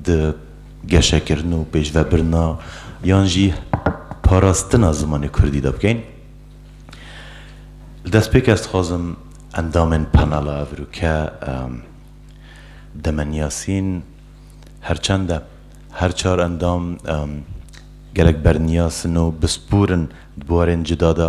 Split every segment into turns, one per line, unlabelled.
di geşekirin û pêşvebirina yan jî parastina zimanê kurdî de bikein. Li destpêk ez dixwazim endamên panela Evrûke Demen Yasîn her çend e her çar endam gelek berniyas in û bispûr in di buarên cida de,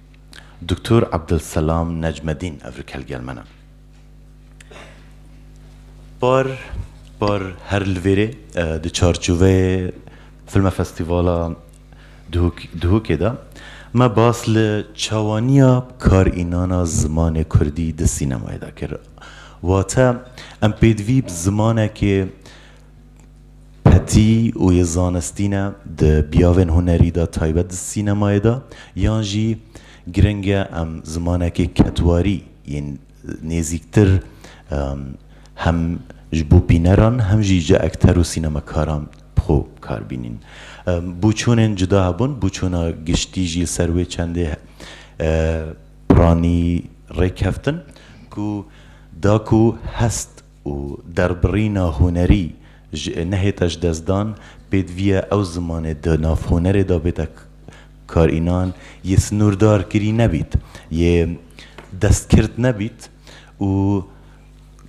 Doktor Abdulselam Necmedîn ev rikelgel min e. Par par her li vêrê di çarçoveyê Filme Festîvala Duhokê de me bas li çawaniya karînana zimanê kurdî di sînemayê de kir. Wate em pêdivî bi zimanekê Petî û yê zanistî ne di biyavên hunerî de taybet di sînemayê de yan jî giring e em zimanekê ketwarî yên nêzîktir hem ji bo bîneran hem jî ji ekter û sînemekaran bi xwe bikar bînîn. Bûçûnên cuda hebûn, bûçûna giştî jî li ser wê çendê piranî rêkeftin ku da ku hest, û derbirîna hunerî ji nehêta ji dest dan pêdiviya ew zimanê di nav hunerê de bêta karînan yê sinûrdar kirî nebît, yê destkird nebît û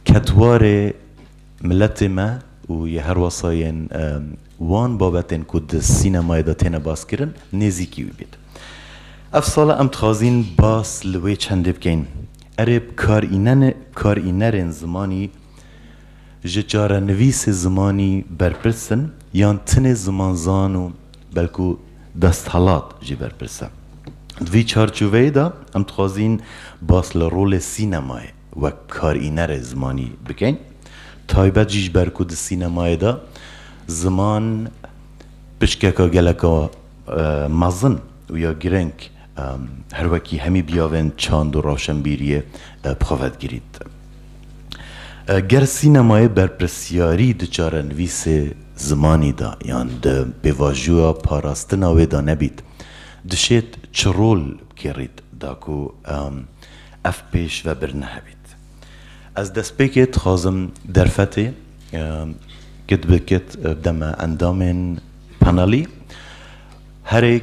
ketwarê miletê me û yê herwasa yên wan babetên ku di sînemayê de têne baskirin nêzîkî wî bît. Ev sala em dixwazîn bas li wê çendê bikeyn. Erê bi karînerên zimanî ji çarenivîsê zimanî berpirs in yan tenê zimanzan û belku desthilat jî berpirs e? Di vî çarçoveyê de em dixwazîn bas li rolê sînemayê wek bi karînerê zimanî bikin, taybet jî ji ber ku di sînemayê de ziman pişkeke geleka mezin û ya giring, Her wekî hemî biyavên çand û rewşenbîriyê bi xwe vedigirît. Ger sînemayê berpirsyarî di çarenivîsê zimanî de yan di pêvajoya parastina wê de nebît, dişêt çi rol bikêrît da ku ev pêşvebir nehevît? Ez destpêkê dixwazim derfetê kit bi kit bide me endamên panelî. Herêk.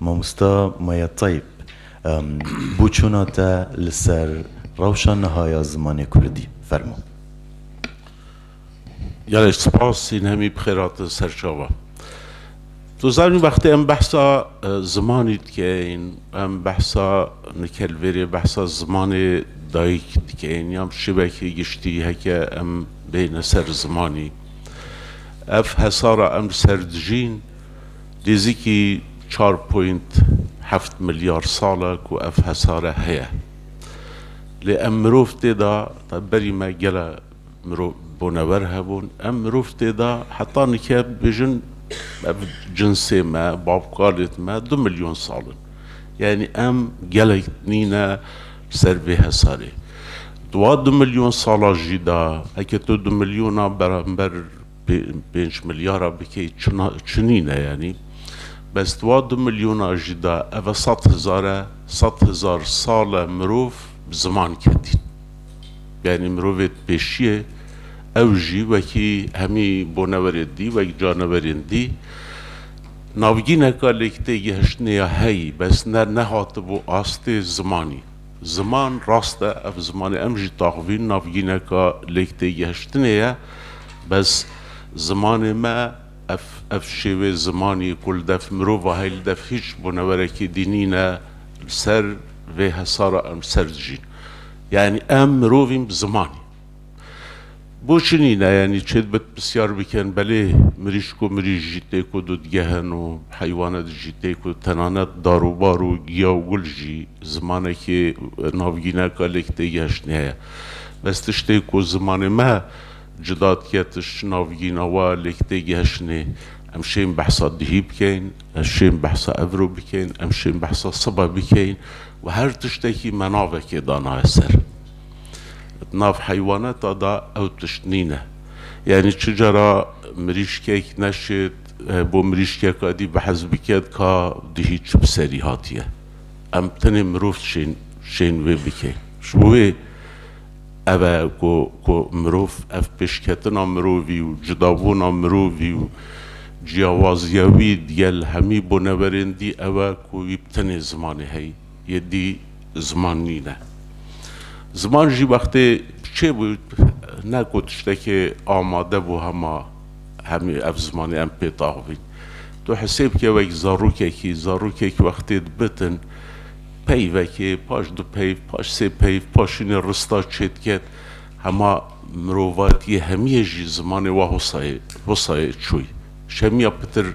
Mamosta Maya Tayyip, boçûna te li ser rewşa niha ya zimanê kurdî, fermo. Gelek spas, hîn hemî bixêr hatin ser çavan. Tu zanî wextê em behsa zimanî dikein, em behsa nikelvêrê, behsa zimanê dayik dikein ya bi şêwekê giştî heke em bêhne ser zimanî, ev hesara em li ser dijîn, Nêzîkî çar point heft milyar sal e ku ev hesare heye. Lê em mirov tê de, taybî berî me gele mirov bonewer hebûn, em mirov tê de heta nike bibêjin ev cinsê me, bavkalêt me du milyon sal in. Yanî em gelek nî ne li ser vê hesarê. Di wan du milyon sala jî de, heke tu du milyona beramber, Pênc milyara bikê çina çinî ne yanî bes di wa du milyona jî de ev e sed hezar e, sed hezar sal e mirov bi ziman ketîn. Yanî mirovê di pêşiyê ew jî wekî hemî boneverên dî, wek caneverên dî navgîneka lêktêgihiştinê ya heyî bes ne nehatibû astê zimanî. Ziman, rast e ev zimanê em jî taxvîn navgîneka lêktêgehiştinê ye, bes zimanê me ev ev şêwê zimanî ku li dev mirova heye li dev hîç bunewerekî dî nîne li ser vê hesara em ser dijîn. Yanî em mirovîn bi zimanî. Bo çi nîne yanî çêdbit pisyar bikin belê mirîşk û mirîş jî tê ku dudgehin û heywanet jî tê ku tenanet dar û bar û giya û gul jî zimanekî navgîneka lêk tê geştnî heye. Bes tiştê ku zimanê me cida dike tişt navgîna wa lêk tê geştnî. Em şên behsa dihî bikeyn, em şên behsa evro bikeyn, em şên behsa sibe bikeyn û her tiştekî me navekê danaye ser. Di nav heywaneta de ew tişt nîne. Yanî çi cara mirîşkek neşêt bo mirîşkeka dî bi hez bike dika dihî çi bi serî hatiye. Em tenê mirov şên şên wê bikeyn. Ji bo wê ev e ku ku mirov ev pêşketina mirovî û cudabûna mirovî û ciyawazîya wî digel hemî boneverên dî ew e ku wî bi tenê zimanê heyî. yê dî ziman nîne. Ziman jî wextê çêbû ne ku tiştekê amade bû hema hemî ev zimanê em pê daxivîn. Tu hisê bike wek zarokekî, zarokek wextê dibitin peyvekê, paş du peyv, paş sê peyv, paşînê rista çêdiket, hema mirovatiyê hemiyê jî zimanê wa hosayê hosayê çûy. Şemiya pitir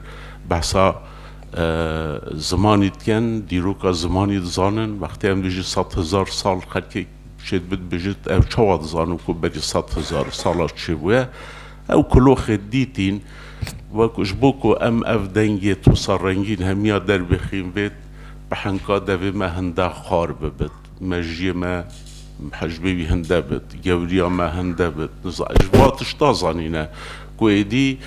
behsa. Zimanî dikin, dîroka zimanî dizanin. Wextê em dijî sed hezar sal xelkê şê dibe dibêje ew çawa dizanin ku berî sed hezar sala çê bûye. Ew kuloxê dîtîn we ku ji bo ku em ev dengê tosa rengîn hemiya der bixîn bêt bi henka devê me hinde xar bibit, mejiyê me hejbê wî hinde bit, gewriya me hinde bit. Ji ba tişta zanîne ku êdî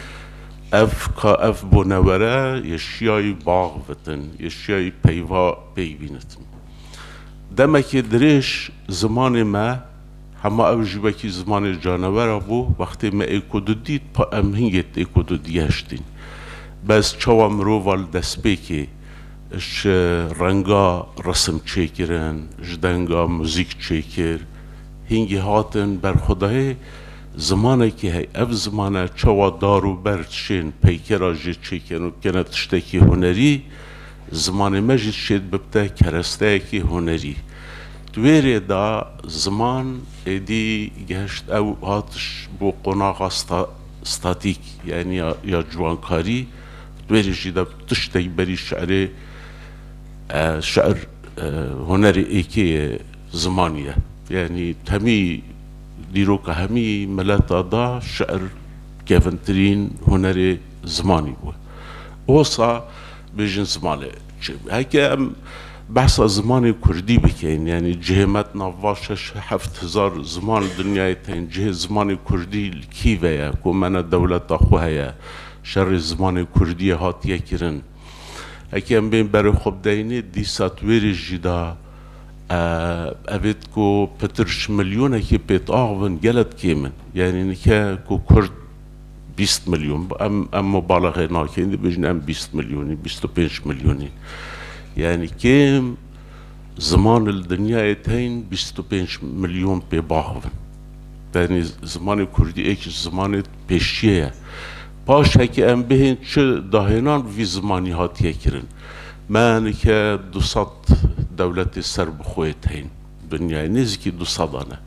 Ev ka ev bonewere yê şiyayî bax vitin, yê şiyayî peyva pêk bînitin. Demekê dirêj zimanê me, hema ew jî wekî zimanê canewera bû, wextê me ê ku didît, pa em hingê ê ku didigeştîn. Bez çawa mirova li destpêkê ji renga resim çêkirin, ji denga muzîk çêkir, hingê hatin berxwedayê Zimanekî heye, ev zimane çawa dar û ber çên peykera jê çêken û bikene tiştekî hunerî, zimanê me jî çêd bibite keresteyekî hunerî. Di wê rê de ziman êdî gihişt ew hatiş bo qonaxa sta statîk yanî ya ya ciwankarî, di wê rê jî de bi tiştek berî şerê şer hunerê êkê yê zimanî ye. Yanî temî. Dîroka hemî mileta da şi'ir kevintirîn hunerê zimanî bû. Osa bêjin zimanê çi bû. Heke em behsa zimanê kurdî bikein yanî cihê me di nav va şeş heft hizar ziman dinyayê tên cihê zimanê kurdî li kî ve ye ku me ne dewleta xwe heye şerê zimanê kurdîyê hatiye kirin. Heke em bên berê xwe bidayînê dîsa di wê rê jî da. Evêt ku pitir ji milyonekî pêtax bin gelek kêm in. Yanî nike ku kurd bîst milyon bi em em mubalaxê nakin dibêjin em bîst milyonî bîst û pênc milyonî. Yanî kêm ziman li dinyayê teyn bîst û pênc milyon pêbax bin. Yanî zimanê kurdî êk ji zimanê pêşiyê ye. Paşekî em bihên çi dahênan bi vî zimanî hatiye kirin. Me nike du sed dewletê serbixweyê tên. Dinyayê nêzîkî du sedan e.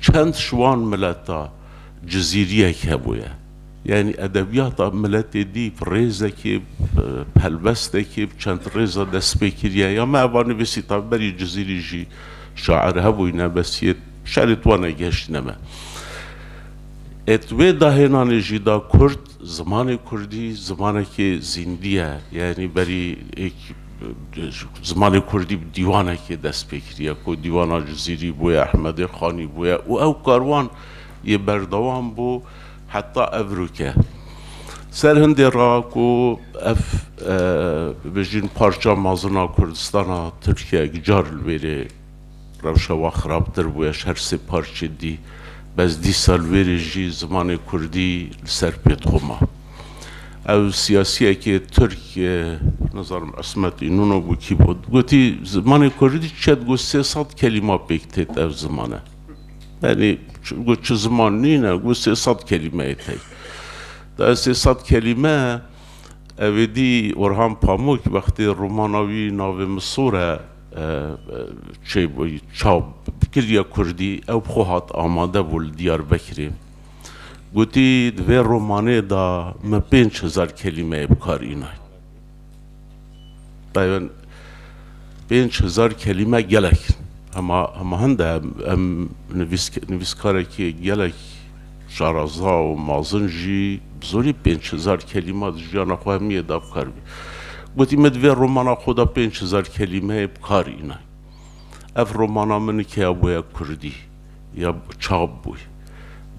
Çend ji wan mileta cizîriyek hebûye. Yanî edebiyata miletê dî bi rêzekê, bi pelbestekê, bi çend rêza destpê kiriye. Ya me eva nivîsî tabi berî cizîrî jî şair hebûyne bes yê şerê wan e gihiştîne me. Êt wê dahênanê jî da kurd Zimanê kurdî zimanekî zîndî ye, yanî berî zimanê kurdî bi dîwanekê dest pê kiriye ku Dîwana Cizîrî bûye, Ehmedê Xanî bûye û ew karwan yê berdewam bû heta Evrûke. Ser hindê ra ku ev bibêjin parça mezin a Kurdistana Tirkiyeyek car li wê rê Rewşa wan xirabtir bûye ji her sê parçê dî, bez dîsa li wê rê jî zimanê kurdî li ser pê dixwe ma. Ew siyasiyekê tirk, nizanim Ismet Înûno bû kî bû, gotî zimanê kurdî çiye digot sê sed kelîma pêk têt ev zimane. Yanî got çi ziman nîne, got sê sed kelîmeyê tey. Da ev sê sed kelîme ew êdî Orhan Pamuk wextê romana wî navê Misûr e, Çê çav dikiriye kurdî, ew bi xwe hat amade bû li Diyarbekirê. Gotî di vê romanê de min pênc hezar kelîmeyê bi kar îne. Taybet pênc hezar kelîme gelek in. Hema hema hin de em nivîs nivîskarekî gelek Şaraza û mazin jî bi zorî pênc hezar kelîma di jiyana xwe hemiyê de bikar bî. Gotî me di vê romana xwe de pênc hezar kelîmeyê bikar îne. Ev romana min ke ya bûye kurdî ya çap bûy.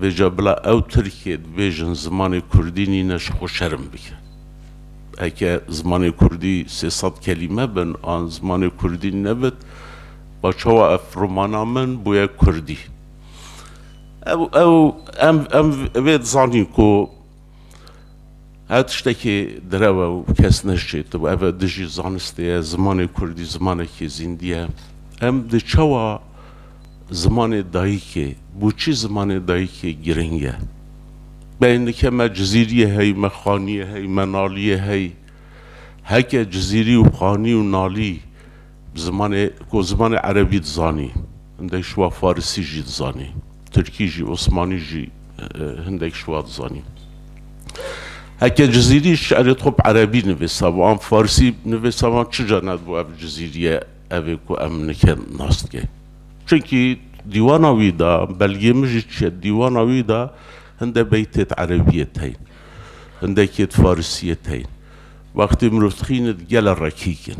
Vêca bila ew tirkê dibêjin zimanê kurdî nîne ji xwe şerm bike. Heke zimanê kurdî sê sed kelîme bin an zimanê kurdî nebit ba çawa ev romana min bûye kurdî. Ew ew em em vê dizanîn ku her tiştekê direw e û kes ne ji cê tibû. Ev e dijî zanistê ye, zimanê kurdî zimanekî zîndî ye. Em di çawa zimanê dayîkê, boçî zimanê dayîkê girîng e. Beyên dike me cizîriyê heyî, me xaniyê heyî, me naliyê heyî. Heke cizîrî û xanî û nalî, Bi zimanê ku zimanê erebî dizanî, hindek ji wan farisî jî dizanî, tirkî jî, osmanî jî hindek ji wan dizanî. Heke Cizîrî ji şerê xwe bi erebî nivîsabû an farisî nivîsaban çija nedibû ev Cizîrîye ev ê ku em nike nas dike. Çimkî dîwana wî de, belgê min jî çiye, dîwana wî de hindek beytêt erebîyê teyne, hindekêt farisîyê teyne. Wextê mirov dixîne di gele rekîk in.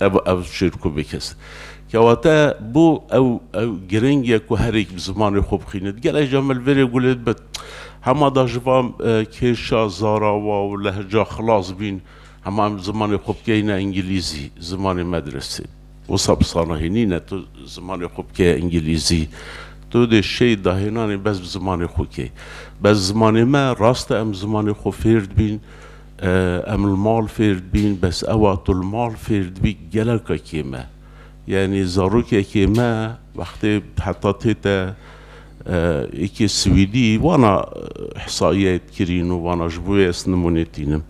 Ev ev çirku bikes. Kewate bu ew ew giring ye ku herêk bi zimanê xwe bixînit. Gel eja me li verê gulê dibit. Hema da ji van kêşa zarawa û lehca xilas bîn. Hema em zimanê xwe bikeyne îngîlîzî, zimanê medresê. Wisa bi sala hênî ne tu zimanê xwe bikeye îngîlîzî. Tu dê şêy dahênanê bes bi zimanê xwe key. Bes zimanê me, rast e em zimanê xwe fêr dibîn, Em li mal fêr dibîn bes ewa tu li mal fêr dibî geleka kêm e. Yanî zarokekê me wextê heta tê te yekê swîdî wana hesayiyayê dikirîn û wana ji bo ez nimûne tînim.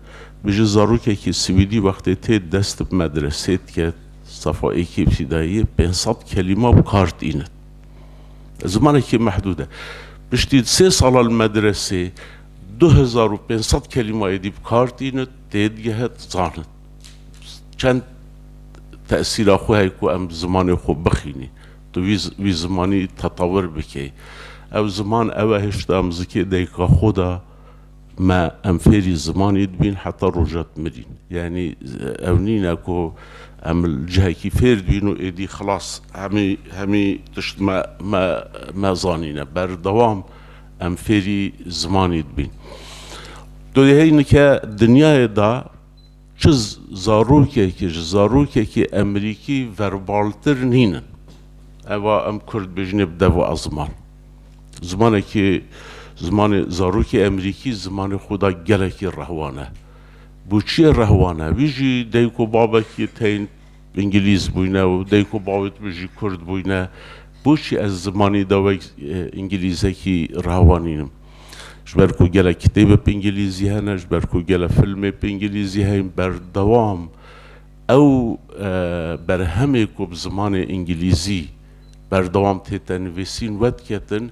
Bêje zarokekê swîdî wextê tê dest bi medresê diket sefa yekê îbtîdayiyê pênc sed kelîma bi kar tînin. Zimanekê mehdûd e. Piştî sê sala li medresê Du hezar û pênc sed kelîma êdî bi kar tîn û tê digehe dizanin. Çend tesîra xwe heye ku em bi zimanê xwe bixînî, tu vî vî zimanî tetawir bikey. Ew ziman ew e hişt em zikê dayika xwe de me em fêrî zimanê dibîn heta roja di mirîn. Yanî ew nîne ku em li cihekî fêr dibîn û êdî xilas hemî hemî tişt me me me zanîne. Berdewam Em fêrî zimanî dibîn. Tu dê heyî nike dinyayê de çi zarokekî ji zarokekî emerîkî verbaltir nînin. Eva em kurd dibêjinê bi dev a ziman. Zimanekî zimanê zarokê emerîkî zimanê xwe de gelekî rehwane. Bo çiyê rehwane? Wî jî dayik û babekî tên. Îngilîz bûyne û dayik û bavê te jî kurd bûyne, boçî ez zimanî de wek îngilîzekî rawanînim? Ji ber ku gelek kitêb bi îngilîzî hene, ji ber ku gelek filmê bi îngilîzî heyn, berdewam ew berhemê ku bi zimanê îngilîzî berdewam tête nivîsîn wet ketin,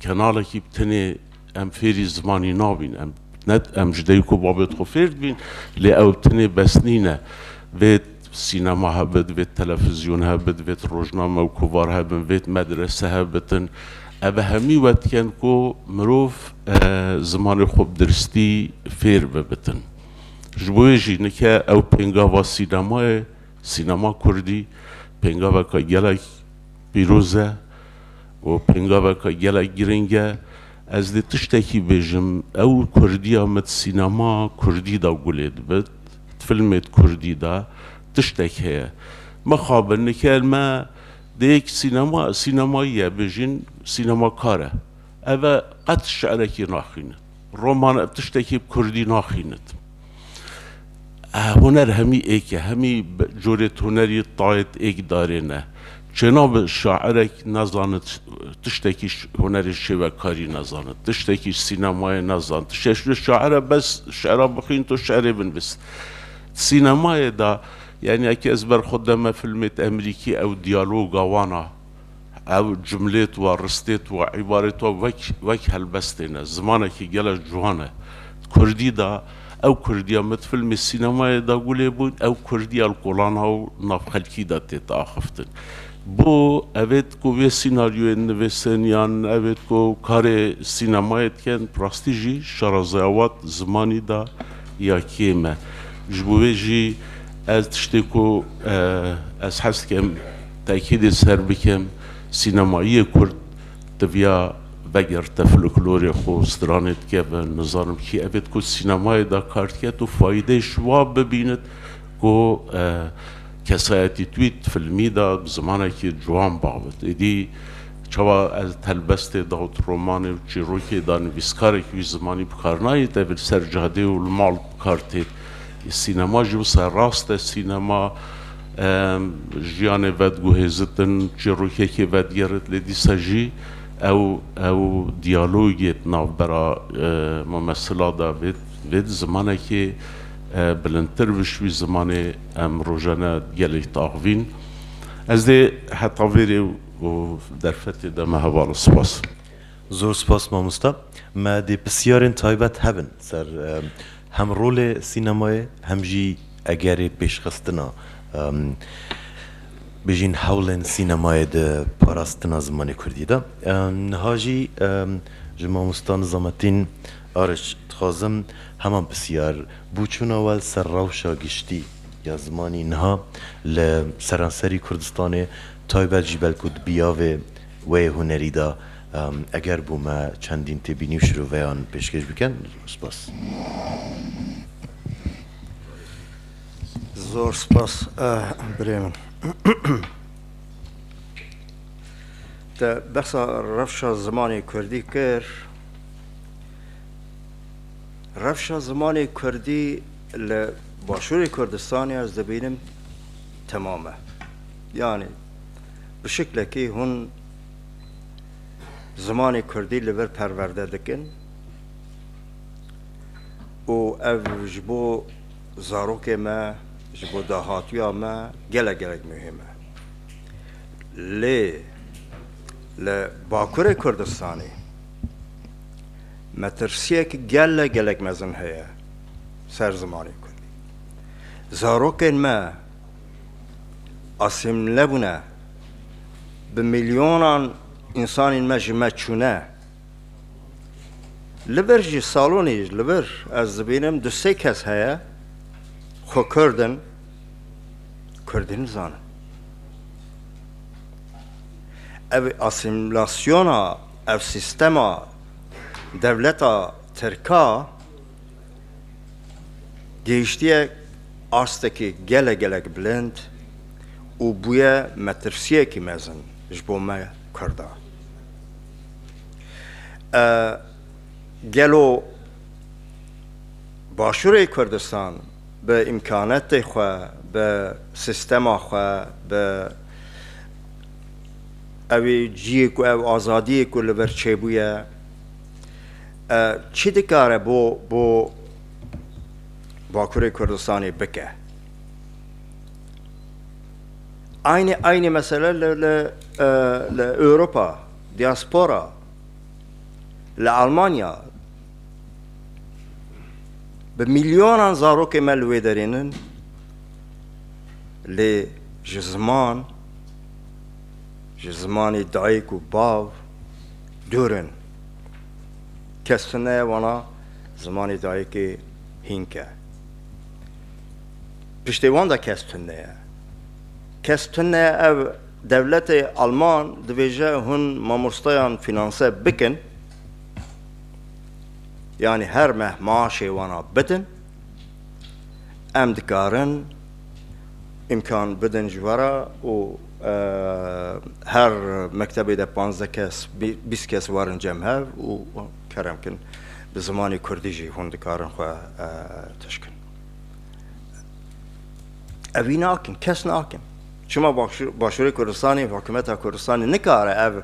Kenalekî bi tenê em fêrî zimanî nabîn. Em ne em ji dayik û babê xwe fêr dibîn lê ew bi tenê bes nîne. Vê sînema hebit, vê telefizyon hebit, vê rojname û kovar hebin, vê medrese hebitin. Ev hemî we dikin ku mirov zimanê xwe bi diristî fêr bibitin. Ji bo wê jî nike ew pêngava sînemayê, sînema kurdî pêngaveke gelek pîroz e. Û pêngaveke gelek girîng e. Ez dê tiştekî bêjim, ew Kurdiya me di sînemaya Kurdî de gulê dibe, di filmê Kurdî de tiştek heye. Mixabe nikeyên me dê yek sînema, sînemayî ye bêjin, sînemakar e. Ev e qet şi'rekî naxwîne. Roman ev tiştekî bi kurdî naxînit. Huner hemî êk e, hemî corê tonerî tayet êk darê ne. Çênabe şairek nezanit tiştekî hunerê şêwekarî nezanit, tiştekî sînemayê nezanit. Ti şeşûyê şair e bes şera bixwîn to şerê binvis. Sînemayê de yanî eke ez ber xwe deme filmêt emrîkî ew diyaloga wan a. Ev cumlêt wa, ristêt wa, îbarêt wa wek wek helbestê ne. Zimanekî gelo ciwan e. Di kurdî de ew kurdîya me di filmê sînemayê de gulê bû, ew kurdîya li kolana û navxelkî de tê diaxiftin. Bo evêt ku vê sînaryoyên nivîsin yan evêt ku karê sînemayê dikin bi rastî jî şarazaya wan di zimanî de ya kêm e. Ji bo vê jî ez tiştê ku ez hez dikim, Tekîdê ser bikim, sînemayê kurd diviya vegirte folklorê xwe û stranê dike ve, nizanim kî ev êd ku sînemayê de kar diket û fayîdeyê ji wa bibînit ku kesayetî tu yê di filmî de bi zimanekî ciwan biavit. Êdî çawa ez di helbestê de û di romanê û çîrokê de nivîskarekî wî zimanî bikar nayê, tevî li ser cadê û li mal bikar tê. Sînema jî wisa rast e. Sînema jiyanê vediguhêzitin, çîrokekê vedigerit lê dîsa jî ew ew diyalogê di navbera mumesila de vêt vêt zimanekê bilindtir vij wî zimanê em rojane gelek diaxivîn. Ez dê heta vê rê û derfetê de me hevala. Spas. Zor spas mamosta. Me dê pisyarên taybet hebin ser Hem rolê sînemayê hem jî egerê pêşxistina bêjîn hewlên sînemayê di parastina zimanê kurdî de. Niha jî ji mamosta Nizametîn Ariç dixwazim heman pisyar bû çûna we li ser rewşa giştî ya zimanî niha li seranserî Kurdistanê taybet jî belku di biyavê Wê hunerî de eger bû me çendîn têbînî û şiroveyan pêşkêş bikin. Spas. Zor spas birê min. Te behsa rewşa zimanê Kurdî kir. Rewşa zimanê Kurdî li Başûrê Kurdistanê ez dibînim temam e. Yanî Bi şiklekî hûn zimanê kurdî li vir perwerde dikin û ev ji bo zarokê me, ji bo dahatiya me gelek gelek muhîm e. Lê li Bakurê Kurdistanê metirsiyek gelek gelek mezin heye ser zimanê kurdî. Zarokên me, asimîle bûne, bi milyonan însanên me ji me çûne. Li vir jî salonê li vir ez dibînim du sê kes heye xwe kurd in, kurdî nizanin. Ev asimîlasyona, ev sîstema dewleta tirk a, gihiştiye astekî gelek gelek bilind û bûye metirsiyekî mezin ji bo me Kurda. Gelo Başûrê Kurdistan bi îmkanetê xwe, bi sîstema xwe, bi ew ciyê ku ew azadiyê ku li vir çêbûye, Çi dikare bo bo Bakurê Kurdistanê bike? Aynê aynê mesele li li li Ewropa, diaspora, li Almanya bi milyonan zarokê me li wê derê nin lê ji ziman ji zimanê dayik û bav Dûr in. Kes tu neye wana zimanê dayikê hînk e. Piştê wan de kes tu neye. Kes tu neye ev dewletê Alman dibêje hûn mamostayan fînanse bikin, yanî her meh maaşê wana bidin, em dikarin îmkan bidin ji we re û Her mektebê de panzdeh kes, bîst kes warin cem hev û kerem kin. Bi zimanê kurdî jî hûn dikarin xwe tişkin. Ev vî nakin, kes nakin. Çima Başûrê Kurdistanê, Hikûmeta Kurdistanê nikare ev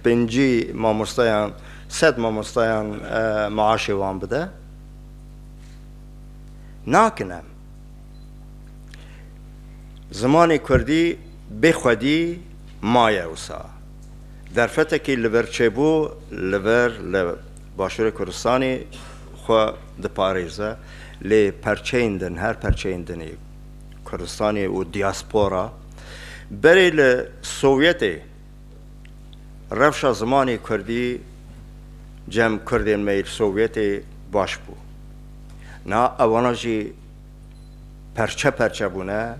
pêncî mamostayan, sed mamostayan maaşê wan bide? Nakin em. Zimanê kurdî bê xwedî maye wisa. Derfetekî li vir çêbû li vir li Başûrê Kurdistanê xwe diparêze lê perçeyên din her perçeyên din ê Kurdistanê û diaspora berê li Sovyetê Rewşa zimanê kurdî cem kurdên me yê Sovyetê baş bû. Niha ewana jî perçe perçe bûne,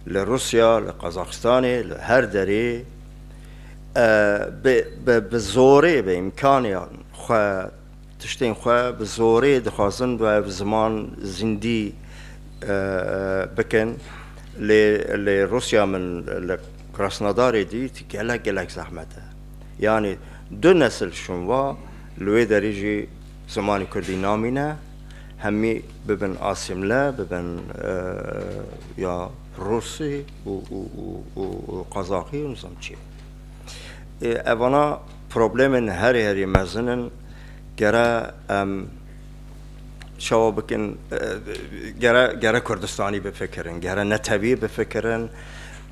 li Rûsya, li Qazaxistanê, li her derê bi zorê, bi îmkaniyan xwe Tiştên xwe bi zorê dixwazin bi ev ziman zîndî bikin lê li Rûsya min li Krasnodarê dît gelek gelek zehmet e. Yanî du nesil şûnva li wê derî jî zimanê kurdî namîne, hemî bibin asîmle bibin ya rûsî û qazaxî û nizam çi. Evana. Problemên herî herî mezin in. Gere em şewa bikin, gere gere Kurdistanî bifikirin, gere netewî bifikirin,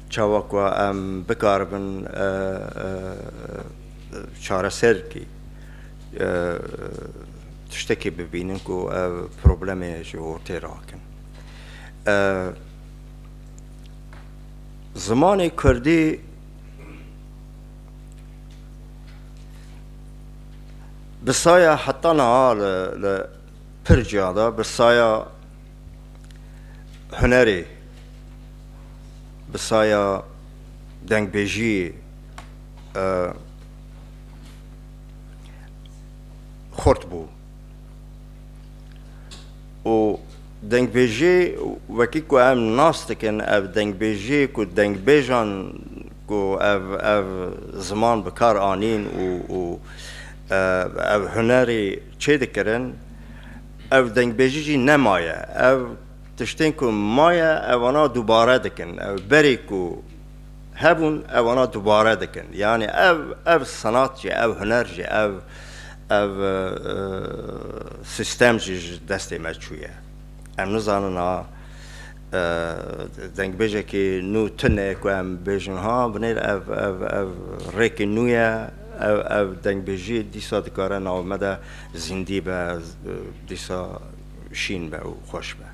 çawa ku em bikaribin çareserkî tiştekî bibînin ku ev problemê ji ortê rakin. Zimanê Kurdî. Bi saya heta niha li pir ciya de bi saya hunerê, bi saya dengbêjiyê xurt bû û dengbêjiyê wekî ku em nas dikin ev dengbêjiyê ku dengbêjan ku ev ev ziman bi kar anîn û û ev hunerê çêdikirin, ev dengbêjî jî nemaye. Ev tiştên ku maye ewana dubare dikin. Ew berê ku hebûn ewana dubare dikin. Yanî ev ev senat jî, ev huner jî, ev ev sîstem jî ji destê me çûye. Em nizanin a Dengbêjekî nû tune ku em bêjin ha binêr ev ev ev rêkî nû ye. Ev ev dengbêjî dîsa dikare nav me de zîndî be, dîsa şîn be û xweş be.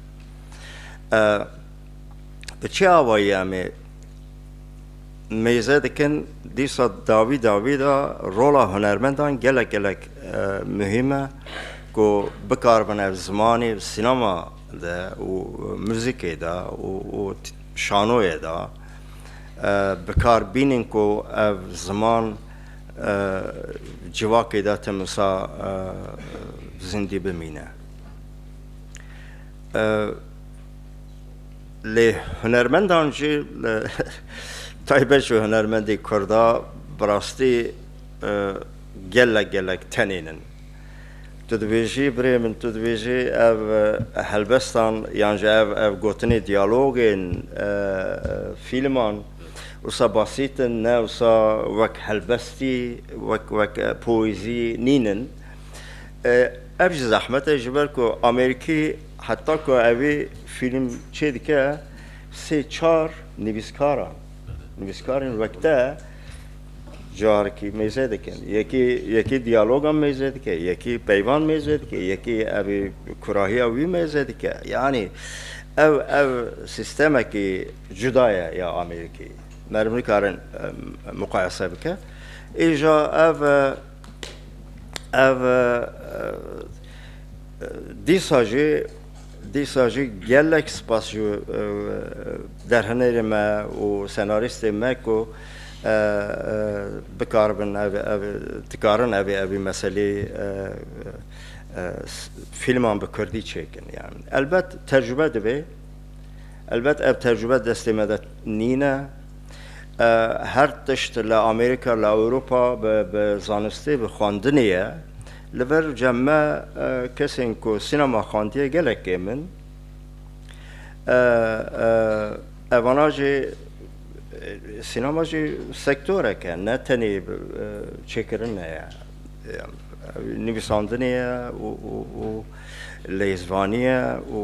Bi çi awayî em ê mêze dikin dîsa dawî dawî de rola hunermendan gelek gelek muhîm e ku bikaribin ev zimanî, sînema, de û muzîkê de û şanoyê de bi kar bînin ku ev ziman civakê de tim wisa zindî bimîne. Lê hunermendan jî taybet ji hunermendê kurd a bi rastî gelek gelek tenênin. Tu dibêjî birê min, tu dibêjî ev helbestan yan jî ev ev gotinê diyalogên fîlman wisa basît in, ne wisa wek helbestî, wek wek poezî nîn in. Ev jî zehmet e ji ber ku Amerîkî heta ku evî fîlm çêdike sê çar nivîskaran, nivîskarên wek te, Carekî mêze dikin. Yekî yekî diyaloga mêze dike, yekî peyvan mêze dike, yekî evî kurahiya wî mêze dike. Yanî ev ev sîstemekî cuda ye ya Amerîkî. Meriv nikarin muqayese bike. Îja ev ev dîsa jî Dîsa jî gelek spas ji derhenerê me û senarîstê me ku bikaribin ev dikarin ev ê evî meselê fîlman bi kurdî çêkin. Yan elbet tecrube divê. Elbet ev tecrube destê me de nîne. Her tişt li Amerîka, li Ewropa bi zanistê, bi xwendinê ye. Li vir cem me kesên ku sînema xandiye gelek kêm in. Evana jî sînema jî sektorek e, ne tenê çêkirin heye. Nivîsandinê ye û lêzvanî ye û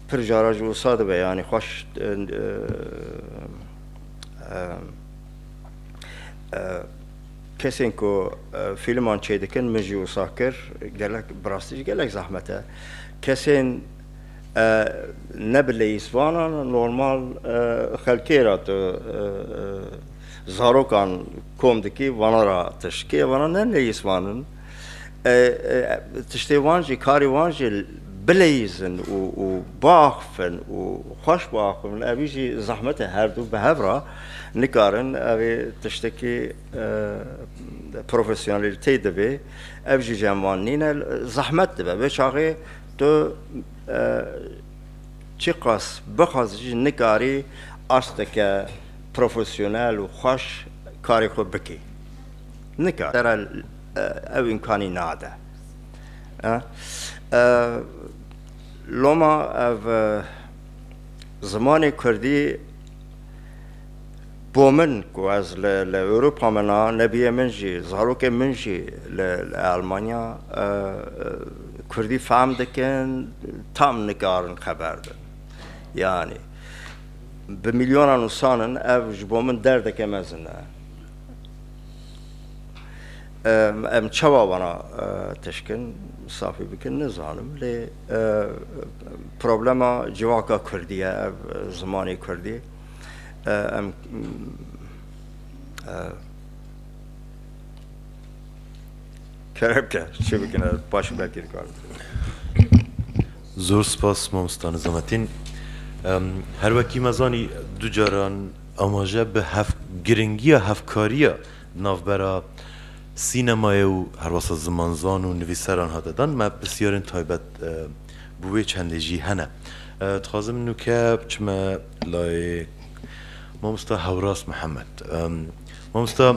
pir cara jî wisa dibe yanî xweş Kesên ku fîlman çêdikin min jî wisa kir gelek bi rastî jî gelek zehmet e. Kesên ne bi leyîsvanan normal xelkê re tu zarokan kom dikî vana re tişt kê vana ne leyîsvan in. Tiştê wan jî karê wan jî bileyîzin û û biaxifin û xweş biaxifin evî jî zehmet e her du bi hev re nikarin evê tiştekî profesyonelîteyê divê ev jî cem wan nîne zehmet dibe vê çaxê tu çiqas bixwazî jî nikarî asteke profesyonel û xweş karê xwe bikî. Nika te re ew îmkanî nade. Loma ev zimanê Kurdî bo min ku ez li Ewropa min a nebiyê min jî zarokên min jî li Elmanya Kurdî fehm dikin tam nikarin xeber bin. Yanî bi milyonan ûsan in ev ji bo min derdeke mezin e. Em çawa wana tişkin safî bikin nizanim lê problema civaka Kurdî ye ev zimanê Kurdî em kerevke çi bikin ez baş belkî dikarim. Zor spas mamosta Nizamettin. Her wekî me zanî du caran Amaje bi giringiya hevkariya di navbera sînemayê û herwasa zimanzan û nivîseran hate dan. Me pirsyarên taybet bi wê çendê jî hene. Dixwazim nûke biçime layê mamosta Hewras Mihemed. Mamosta.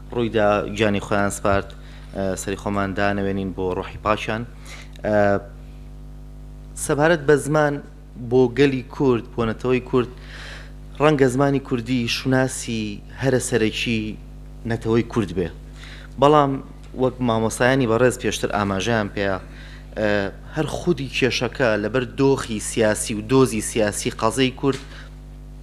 Rûy da giyanê xweyan spard serî xweman da newênîn bo ruhî paşan. Sebaret be ziman bo gelî kurd bo neteweyî kurd renge zimanî kurdî şunasî here serekî neteweyî kurd be. Belam wek mamostayanî berêz pêştir amajeyan pê ya her xwedî kêşeke li ber doxî siyasî û dozî siyasî qezeyê kurd,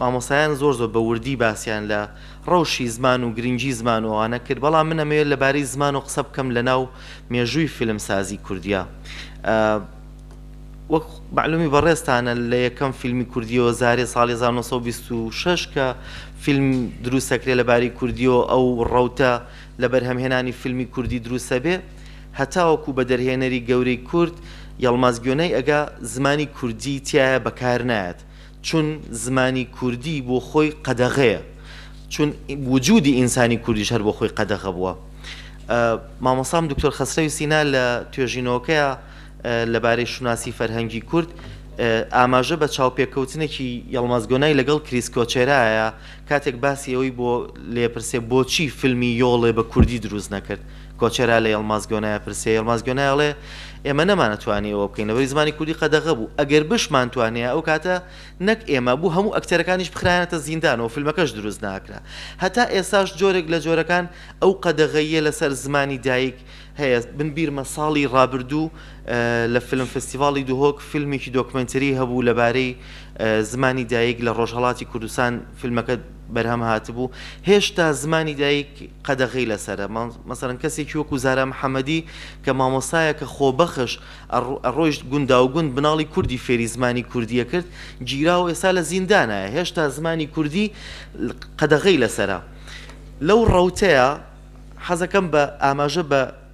Mamostayan zor zor bi wirdî basiyan li rewşî ziman û girîngî ziman û ane kir. Bela min emê li barî ziman û qise bikim li nav mêjûyî fîlmsazî kurdîya. Wek melûmî berêz tane li yekem fîlmî kurdî yo Zarê sal hezar û neh sed û bîst û şeş ke fîlm dirûs sekirê li barî kurdî yo ew rewte li berhemhênanî fîlmî kurdî dirûs hebê. Heta wekû bi derhênerî gewrî kurd Yelmaz Göney ege zimanî kurdî tîyaye bekar nayet. Çun zimanî kurdî bo xwe qedexe ye. Çun wicûdî însanî kurdî ji her bo xwe qedexe bûye. Mamostam Doktor Xesrew Sîna li Toêjînokeya li barê şûnasî ferhengî kurd amaje be çawpêkewtinekî Yilmaz Gonay legel Krîs Koçera ye. Katek basî ewî bo lêpirsê boçî filmî Yolê bi kurdî dirûst nekird? Koçera li Yilmaz Gonaya pirsiye. Yilmaz Gonaya elê, Ême nemane twanî ewe bikin. Li berî zimanê kurdî qedexe bû. Eger bişman twanîya ew kate nek ême bû hemû ekterekan jî bixirayanete zîndan û filmeke jî dirûst nakira. Heta êsa ji corek li corekan ew qedexeyîye li ser zimanî dayîk heye. Min bîr me salî rabirdû li Film Festîvalî Duhok filmekî dokumenterî hebû li barê zimanî dayîk li Rojhelatî Kurdistan filmeke berhem hatibû, hêşta zimanî dayîk qedexî li ser e. Meselan kesekî wekû Zara Mihemedî ke mamostayeke xwebexş e, rojt gundawgund minalî kurdî fêrî zimanî kurdî ye kirt, cîra û êsa li zîndana ye. Hêşta zimanî kurdî qedexî li ser e. Lew rewteya, hezekem be amaje be,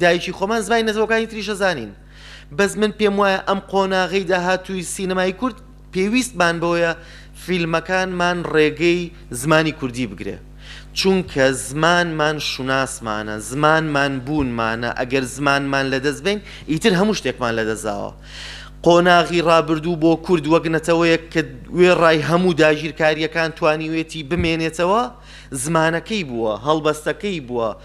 Dayikî xwe man zimanê nezewekanî tirî şe zanîn. Bez min pêm waye em qonaxê dahatûyî sînemayî kurd pêwîst man boye fîlmekan man rêgey zimanî kurdî bigire. Çunke ziman man şunas mane, ziman man bûn mane, eger ziman man ledest bên îtir hemû ştêk man ledest zawa. Qonaxî rabirdû bo kurd wek neteweyek ke wê ray hemû dagîrkarîyekan twanîwêtî bimênêtewe, zimanekey bûwe, helbestekey bûwe,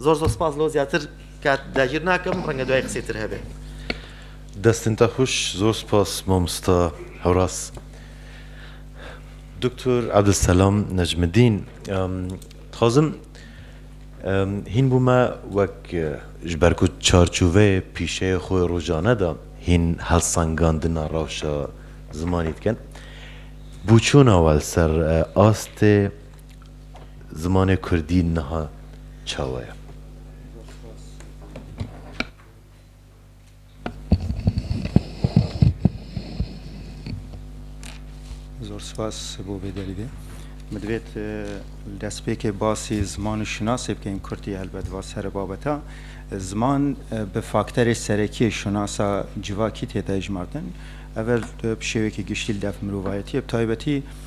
Zor zor spas lo zyatir kat dagir nakim renge duyay qisey tir hebe. Destên te xweş zor spas mamosta Horas. Doktor Abdulselam Necmedîn dixwazim hîn bo me wek ji ber ku çarçoveyê pîşeyê xwe rojane de hîn helsangandina rewşa zimanî dikin bo çûna we li ser astê Zimanê kurdî niha çawa ye? Zor spas bo vê derî de. Min divêt li destpêkê basî ziman û şinasê bikein, kurdî helbet va ser e babeta. Ziman bi fakterê serekî ye şinasa civakî tê dejmartin. Ev bi şêwekî giştî li dev mirovayetî ye bi taybetî,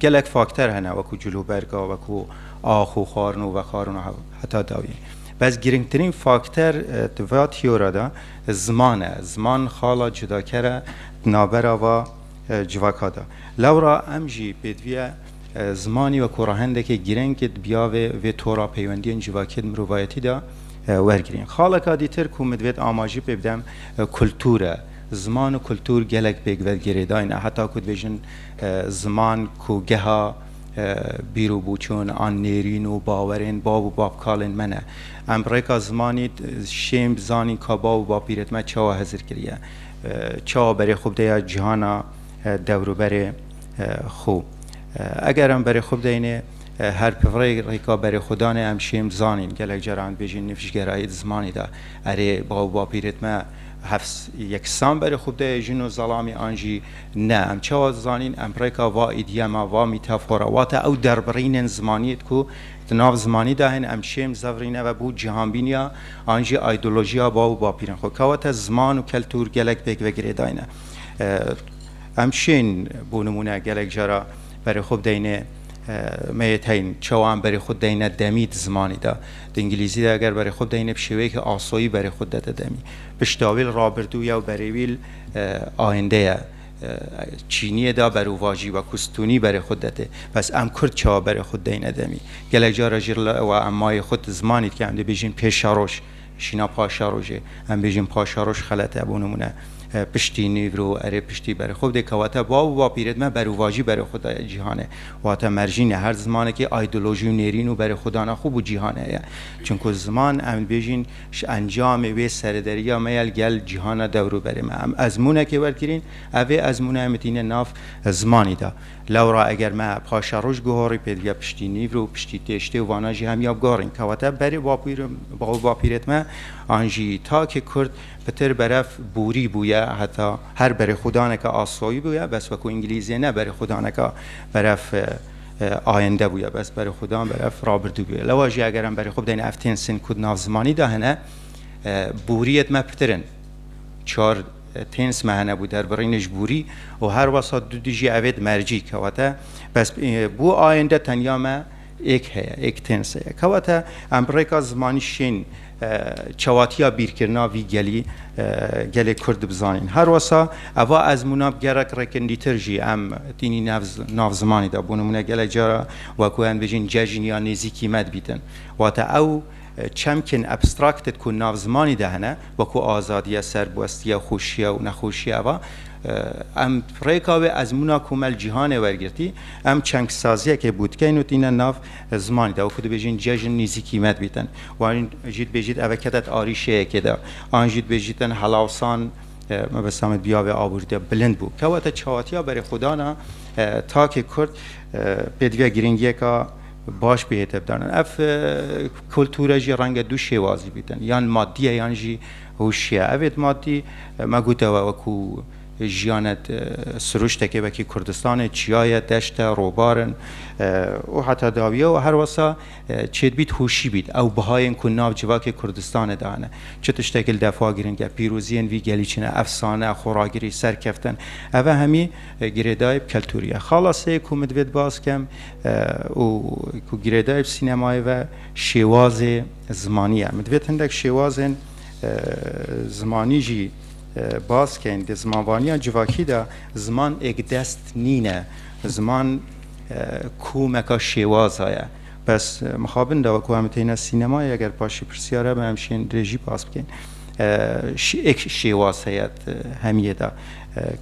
Gelek fakter hene wekû cilûberga, wekû ax û xwarin û vexwarin û heta dawî. Bes girîngtirîn fakter di va tîyora de ziman e. Ziman xala cudaker e di navbera va civaka de. Lewra em jî pêdiviya zimanî wekû rehendekê girîng di biyavê vê tora peywendiyên civakî di mirovayetî de wergirîn. Xaleka dîtir ku min divêt amajî pê bidem kultur e. Ziman û kultur gelek pêk ve girêdayî ne heta ku dibêjin, Ziman ku geha bîr û bûçûn an nêrîn û bawerên bav û bavkalên me ne. Em rêka zimanî şêm bi zanîn ka bav û bavpîrên me çawa hezir kiriye, çawa berê xwe bide ya cîhana dewruberê xwe. Eger em berê xwe bideyne her bi vê rêka berêxwedanê em şêm zanîn. Gelek caran dibêjin nifşgerayî di zimanî de erê bav û bavpîrên me hevs yeksan berê xwe bide ye, jin û zelamî an jî Ne, em çawa dizanîn emprêka va îdyema, va mîtafora, wate ew derbirînên zimaniyê di ku di nav zimanî de hên em şêm zevrîne ve bo cîhanbîniya an jî aydolojiya bav û bapîrên xwe. Kewate ziman û keltûr gelek pêk ve girêdayne. Em şên bo nimûne gelek cara berê xwe bideyne me yê teyn çawa em berê xwe dideyne demî di zimanî de. Di îngilîzî de eger berê xwe bideyne bi şêweyekî asoyî berê xwe dide demî. Piştawîl, rabirdû, yew berê wîl. Ayinde ye. Çîniyê da ber û vajî we ku stûnî berê xwe didetê. Bes em kurd çawa berê xwe dideyne demî? Gelek car e jî wa em mayê xwe di zimanê dike em dê bêjin pêşeroj. Şîna paşerojê. Em bêjin paşeroj xelet e. Bo nimûne piştî nîvro, erê piştî berê xwe bidê kewate bav û bapîrê di me ber û vajî berê xwe da ye cîhanê. Wate merjîn e. Her zimanekî aydolojî û nêrîn û berê xwe dana xwe bû cîhanê ye. Çimku ziman em dibêjin. Ji encamê wê serederiya me ya li gel cîhana dewroberê me em ezmûnekê wergirîn, ev vê ezmûneyê min tîne nav zimanî de. Lewra eger me paşa roj guhorî pêdiviya piştî nîvro û piştî têştê û vanan jî hemiya biguherîn. Kewate berê baw û bapîrêt me an jî takê kurd pitir berev borî bûye heta her berêxwedaneke asoyî bûye bes wekû îngilîzê ne berêxwedaneke berev ayende bûye bes berê xwe dan ber ev rabirdû bûye. Lewa jî eger em berê xwe bidayîne ev tênsên ku di nav zimanî de hene boriyê di me pirtir in. Çar têns me hene bû derbirînê ji borî û her wasa du du jî evê di mercî kewate bes bû ayende tenya me êk heye êk têns heye kewate em bi rêka zimanî şên Çewatiya bîrkirina vî gelî gelê Kurd dibizanîn. Her wisa eva ezmûna bi gerek rêkirindîtir jî em tînî nav zimanê de. Bo nimûne gelek cara wek ku em dibêjin cejn ya nêzî kîmet bîtin. Wate ew çemkên abstracted ku nav zimanê de hene wek ku azadiye, serbwestiye, xweşiye û nexweşiye eva em rêka wê ezmûna komel cîhanê wergirtî em çengsaziyekê bû dikeyn û tîne nav Zimanî de wekî dibêjin cejn nîzîkî me dibîtin. Wan jî dibêjît eve kedet arîşeyekê de. An jî dibêjîtin helawsan mebesta me biyavê abûrî de bilind bû. Kewete çawatiya berê xwe dana takê kurd pêdiviya girîngiyeka baş bihê tevdanan. Ev kulture jî renge du şêwazî bîtin yan madî ye yan jî hûşî ye. Evê madî me gotewe wekû Jiyane siruştekê wekî Kurdistanê, çiyaye, deşte, robar in û heta dawiye û her wisa çêdibît hûşî bît ew bihayên ku nav civakê Kurdistanê de hene çi tiştekî li defa girîng e, pîroziyên vî gelî çi ne, efsane, xoragirî, serkeftin ev e hemî girêdayîb keltûrî ye. Xala seyê ku min divê di baz kem û ku girêdayîb sînemayê ve şêwazê zimanî ye. Min divê hindek şêwazên zimanî jî. Baskên di zimanvaniya civakî de ziman ekdest nîne, ziman komeka şêwaza ye. Bes mixabin de wek em têne sînemayê eger paşî pirsyar hebe em şên rê jî bas bikin. Ek şêwaz heye di hemiyê de.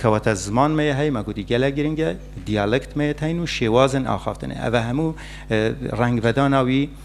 Kewata ziman me yê hey me gotî gelek giring e, diyalekt me yê teyn û şêwazên axaftinê. Ev e hemû rengvedana wî.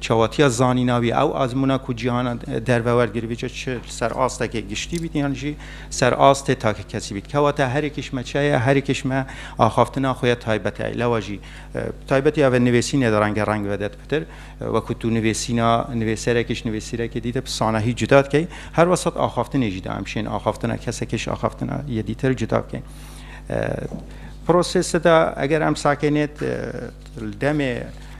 Çawatiya zanîna wî ew azmûna ku cîhana derve wergirivîje çi li ser astekê giştî bît yan jî li ser astê takkesî bît. Kewata herê kişme çi ye, herê kişme axaftina xwe ya taybet heye. Lewa jî bi taybetî ev e nivêsînê de renge reng vede di pitir. Wekû tu nivêsîna nivêserekê ji nivêsîrekê dîte bi sanahî cuda dikey. Her wesat axaftinê jî de em şên axaftina kesekê ji axaftina yê dîtir cuda bikey. Prosesê de eger em sakê nê li demê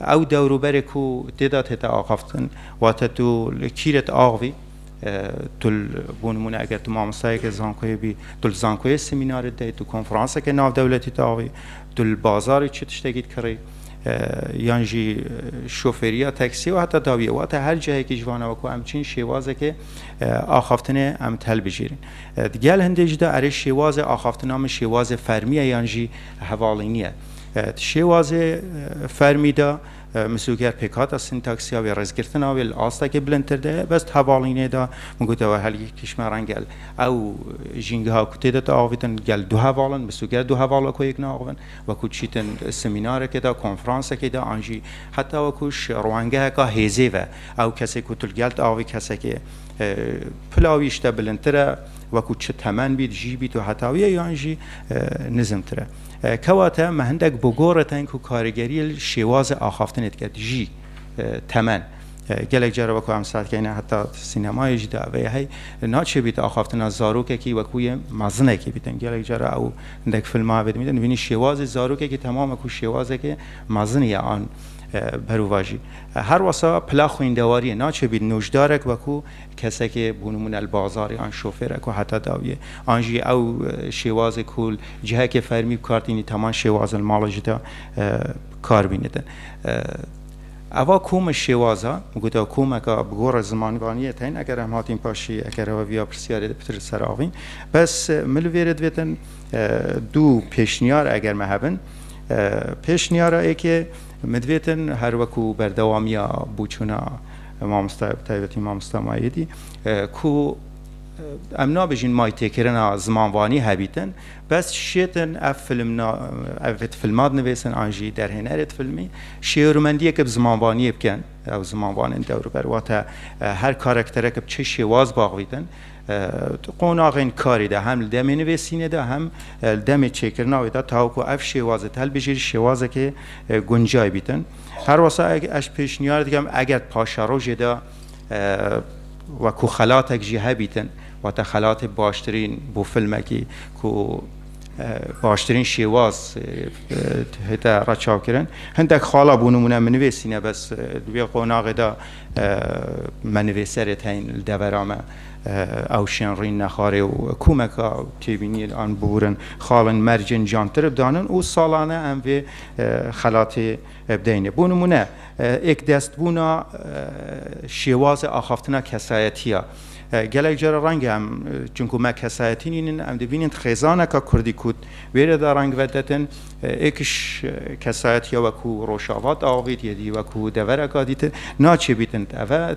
Ew dewroberê ku tê de tête axaftin, wate tu li kî re diaxivî, tu bû nimûne eger tu mamostayeke zankoyê bî, tu li zankoyê semînar didayî, tu konferanseke navdewletî diaxivî, tu li bazarê çi tiştekî dikirî, yan jî şofêriya teksiyê û heta dawiyê, wate her cihekî ji van e wek ku em çin şêwazeke axaftinê em dihilbijêrin. Di gel hindê jî de erê şêwazê axaftina min şêwazê fermî ye yan jî hevalînî ye. Di şêwazê fermî de misûger pêkhata sîntaksiya wê rêzgirtina wê li astekê bilindtir de ye. Bes di hevalînê de min gotiye were herikîş me re gel ew jîngeha ku tê de tê avîtin gel du heval in, misûger du heval wekû yek naaxivin, wekû çîtin semînarekê de, konferansekê de an jî heta wekû ji rewangeheka hêzê ve ew kesê ku tu li gel tê avî kesekê pila wî ji te bilindtir e wekû çi temen bît, jî bît û heta wî ye yan jî nizmtir e. Kewate me hindek bi goretin ku karîgerî li şêwazê axaftinê dike, dijî temen. Gelek care wek ku em saz dikeyn heta sînemayê jî de ev ê hey, naçêbît axaftina zarokekî wek wî yê mezinekî bîtin. Gelek care ew hindek filma ev ê dimîtin, dibînî şêwazê zarokekî temam e ku şêwazeke mezinî ye an berovajî. Her wisa pila xwîndewarî ye, naçêbît nojdarek wek ku kesekê bo nimûne li bazarê yan şofêre ku heta dawiyê an jî ew şêwazê ku li cihekê fermî bikar tînî teman şêwazin li mala jî de bikar bîne din. Eva koma şêwaza min gotiya komeka bi gora zimanvaniyê tên eger em hatîn paşî eger hewa viya pirsiyarê de pitir li ser avîn bes min li vêrê divêtin du pêşniyar eger me hebin pêşniyara êkê min divêtin her weku berdewamiya boçûna Mamosta bi taybetî mamosta Mayedî ku em nabêjin may têkirina zimanvanî hebîtin bes şêtin ev film ev filma dinivêsin an jî derhênerê filmî şêwirmendiyeke bi zimanvaniyê bikin ew zimanvanên dewriber wate her karaktereke bi çi şêwaz baxvîtin qonaxên karî de hem li demê nivêsînê de hem li demê çêkirina wê de taw ku ev şêwazê telbijêrî şêwazekê guncay bîtin Her wisa ez pêşniyar dikim eger paşerojê de wekû xelatek jî hebîtin, wate xelatê baştirîn bo filmekî ku baştirîn şêwaz hate reçavkirin. Hindek xala bo nimûne min nivêsîne bes di vê qonaxê de me nivêserê teyên li devera me Ewşên Rîn, Nexarê û komeka têbîniyên an bûrin xalên mercên cantirib danin û salane em vê xelatê bideyne. Bo nimûne êkdestbûna şêwazê axaftina kesayetî ya. Gelek cara renge em çunku me kesayetî nînin em dibînin di xêzaneka kurdî ku wêre de reng vedetin êkiş kesayetiya wekû Rojava de avêt yê dî wekû devereka dîtin naçêbîtin. Eve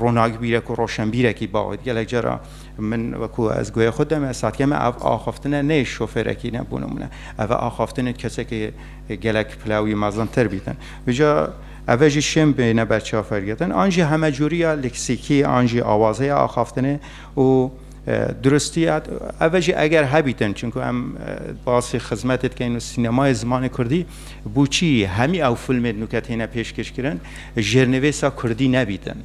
Ronakbîre ku roşenbîrekî bawêt gelek cara min wekû ez guhê xwe dime satiye me ev axaftine nê şofêrekî ne bû nimûne ev e axaftinên kesekê gelek pile wî mezintir bîtin uca ev e jî şên bêne ber çafergirtin an jî hemecûriya leksîkî an jî awazeya axaftinê û Duristî ev jî eger hebîtin çunku em basî xizmetê dikeyin û sînemayê zimanê kurdî bû çî hemî ew filmê di nûke têne pêşkêşkirin jêrnivêsa kurdî nebîtin.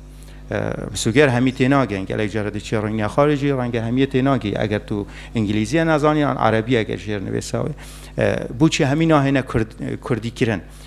Misuger hemî tênagin gelek care diçe rengîna xwe re jî renge hemîyê tênagî eger tu îngîlîzîye nezanî yan erebî eger jêrnivêsa wê bû çî hemî nahêne kurdîkirin.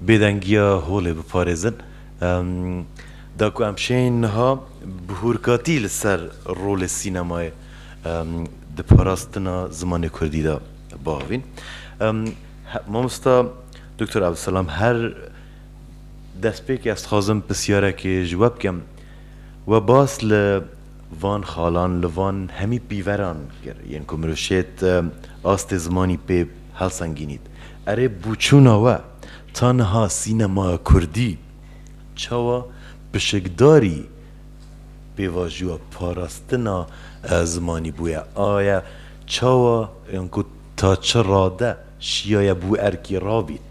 bêdengiya holê biparêzin. Da ku em şêyîn niha bi hûrkatî li ser rolê sînemayê di parastina zimanê kurdî de biavîn. Mamosta Doktor Abdulselam her destpêkê ez dixwazim pisyarekê ji we bikim. We bas li van xalan, li van hemî pîveran kir yên ku mirov şêt astê zimanî pê helsengînît. Erê bûçûna we ta niha sînemaya kurdî çawa pişikdarî pêvajoya parastina zimanî bûye? Aye çawa yan ku ta çi rade şiyaye bû erkî rabît?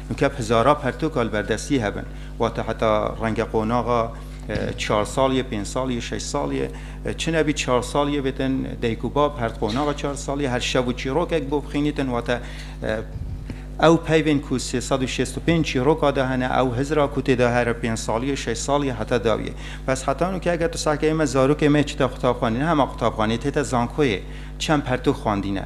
Mukeb hezara pertoka li ber destî hebin, wate heta renge qonaxa çar sal ye, pênc sal ye, şeş sal ye, çi nebî çar sal ye bêtin dayik û bab, her di qonaxa çar sal ye, her şev û çîrokek bo bixînîtin, wate ew peyvên ku sê sed û şêst û pênc çîroka de hene, ew hizira ku tê de here pênc sal ye, şeş sal ye heta daw ye. Bes heta nû ke eger tu seh ke ê me zarokê me çite qutabxanê, ne hema qutabxanê, tête zankoyê, çend pertok xwendîne.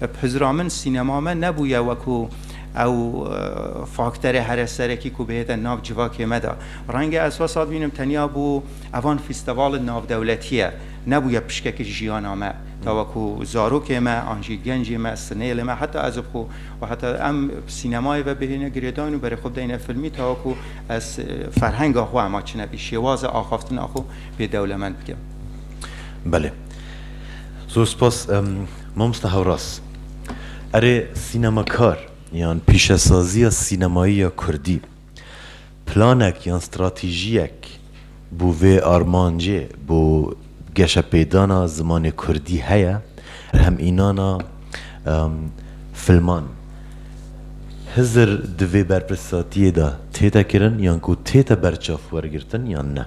Bi hizira min sînema me nebûye wekû ew fakterê here serekî ku bihête nav civakê me de. Renge ez wesat bînim tenya bû evan fîsteval navdewletî ye, nebûye pişkekî jiyana me. Ta wekû zarokê me an jî gencê me, sinêlê me heta ez bi xwe û heta em bi sînemayê ve bihêne girêdayîn û berê xwe bidayîne filmî ta wekû ez ferhenga xwe hema çinekî, şêwaza axaftina xwe pê dewlemend bikim. Belê. Zor spas mamosta Hewraz. Erê sînemakar yan pîşesaziya sînemayî ya kurdî planek yan stratejîyek bo vê armancê bo geşepêdana zimanê kurdî heye? Berhemînana filman Hizir di vê berpirsatîyê de têde kirin yan ku têde berçav wergirtin yan ne?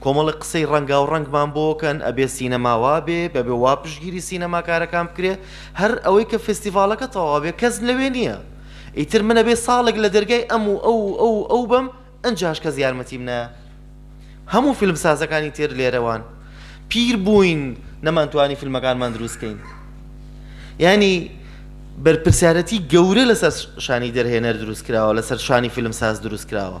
Komelek qisey rengaureng man bo ke ebê sînema wa bê, bebê wa piştgîrî sînemakarekan bikirê. Her ewey ke festîvaleke tawa bê, kes li wê nîye. Îtir min ebê salek li dergehê em û ew û ew û ew bim, inca hîş kes yarmetî min neye. Hemû fîlmsazekân îtir lêre wan. Pîr bûyn, neman twanî fîlmekanman dirûst bikeyn. Yanî berpirsyaretî gewre li ser şanî derhêner dirûst kirawa, li ser şanî fîlmsaz dirûst kirawa.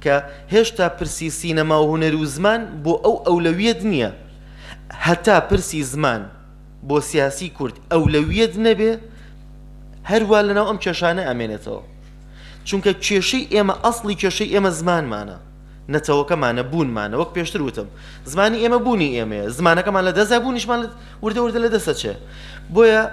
Ke hêşta pirsî sînema û huner û ziman bo ew ewlewiyet niye. Heta pirsî ziman bo siyasî kurd ewlewiyet nebê, her wa li nav em keşane emênetewa. Çunke kêşey ême eslî kêşey ême ziman mane. Neteweke mane, bûn mane. Wek pêştir wutim. Zimanî ême bûnî ême ye. Zimanekeman li dest e bûnîşman wirde wirde li dest e çe. Boye.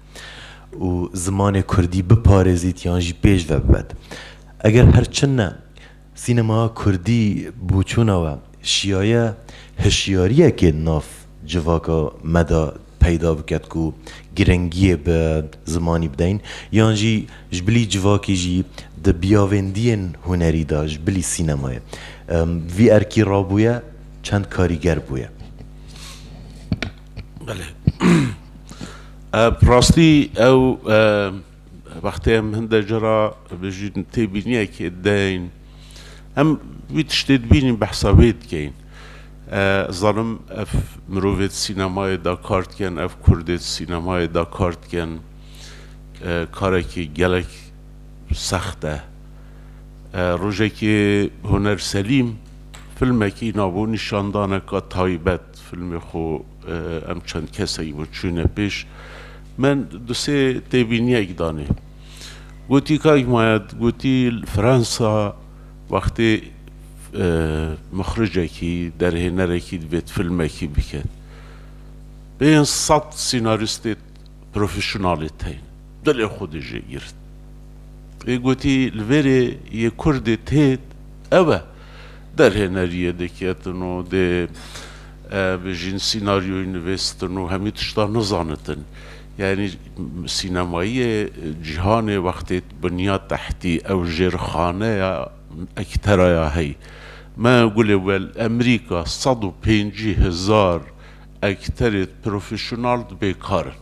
û zimanê kurdî biparêzît yan jî pêş ve bibet. Eger her çi ne, sînemaya kurdî bûçûna we şiyaye hişyariyekê di nav civaka me de peyda biket ku girengiyê bi zimanî bideyn yan jî ji bilî civakî jî di biyavêndiyên hunerî de ji bilî sînemayê vî erkî rabûye çend karîger bûye. Belê. Bi rastî ew wextê em hin de cara bijîn têbîniyekê deyin em wî tiştê dibînîn behsa wê dikeyin. Zanim ev mirovê di sînemayê de kar dikin, ev kurdê di sînemayê de kar dikin. Karekî gelek sext e. Rojekê Huner Selîm filmekî nabû nîşandaneka taybet. Filmê xwe em çend kesekî bo çûne pêş. Men du sê têbîniyek danê. Gotî kak Mayad, gotî li Fransa wextê mixricekî, derhênerekî divêt filmekî biket. Pênc sed sînarîstê profesyonalê teyne. Dilê xwe dijî girt. Ê gotî li vêrê yê kurdê têt ew e. Derhêneriyê diketin û dê bijîn sînaryoyî nivîstin û hemî tişta nizanitin. Yanî sînemayê cîhanê wextê biniya tehtî ew jêrxaneya ektera ya hey. Me gulê wel Emerîka sed û pêncî hezar ekterê profesyonal dibê kar in.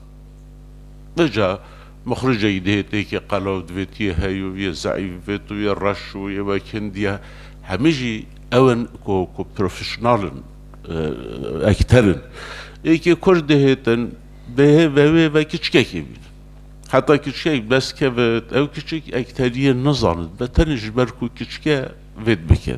Beca Mixrûcê yê dihê têkê qelew divê tu yê heyû û yê zeîf bibê, tu yê reş û yê wek hindî ye. Hemî jî ew in ku ku profesyonal in, ekter in. Êkê kurd dihê te dihê vewê ve kiçikekê bînin. Heta kiçikek bes kevit, ew kiçik ekteriyê nizanit be tenê ji ber ku kiçik e vê dibike.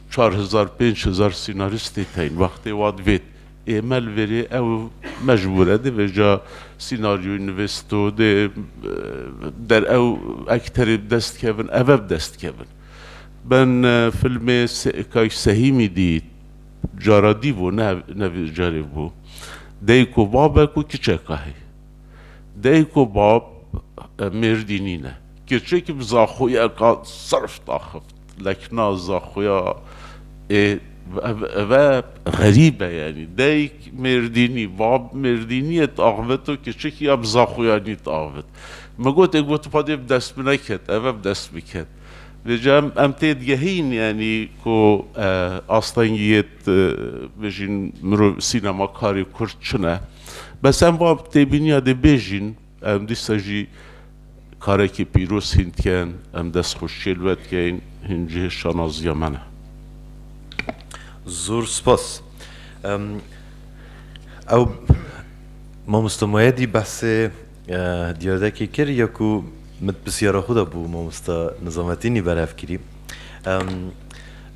Çar hezar pênc hezar sînarîstê teyîn wextê wa divêt. Ême li verê ew mecbûr e dibêja sînaryoyê nivîsto dê der ew ekterê bi dest kevin eve bi dest kevin. Ben filmê Kayîş Sehîmî dî cara dî bû ne ne vê carê bû. Dayik û babek û kiçeka hê. Dayik û bab mêrdî nîne. Kirçekî bi zaxoyeka serf daxift. Lekna Zaxuya ê eve xerîb e yanî dayîk Mêrdînî, bab Mêrdînî ye tu axivit to kiçik ya bi Zaxuyanî tu axivit. Mi got ê got xwedê bi dest min neket eve bi dest min ket. Vê ca em em tê digehîn yanî ku astengî yê tu bijîn mirov sînemakarê kurd çin e. Bes em va têbîniya dê bêjîn. Em dîsa jî karekî pîroz hîn dikin. Em destxweşiyê li we dikin. Hîn cihê şanaziya me ne. Zor spas. Ew Mamosta Moyedî behsê diyadekê kir ya ku min di pirsiyara xwe de bo Mamosta Nizametînî berev kirî.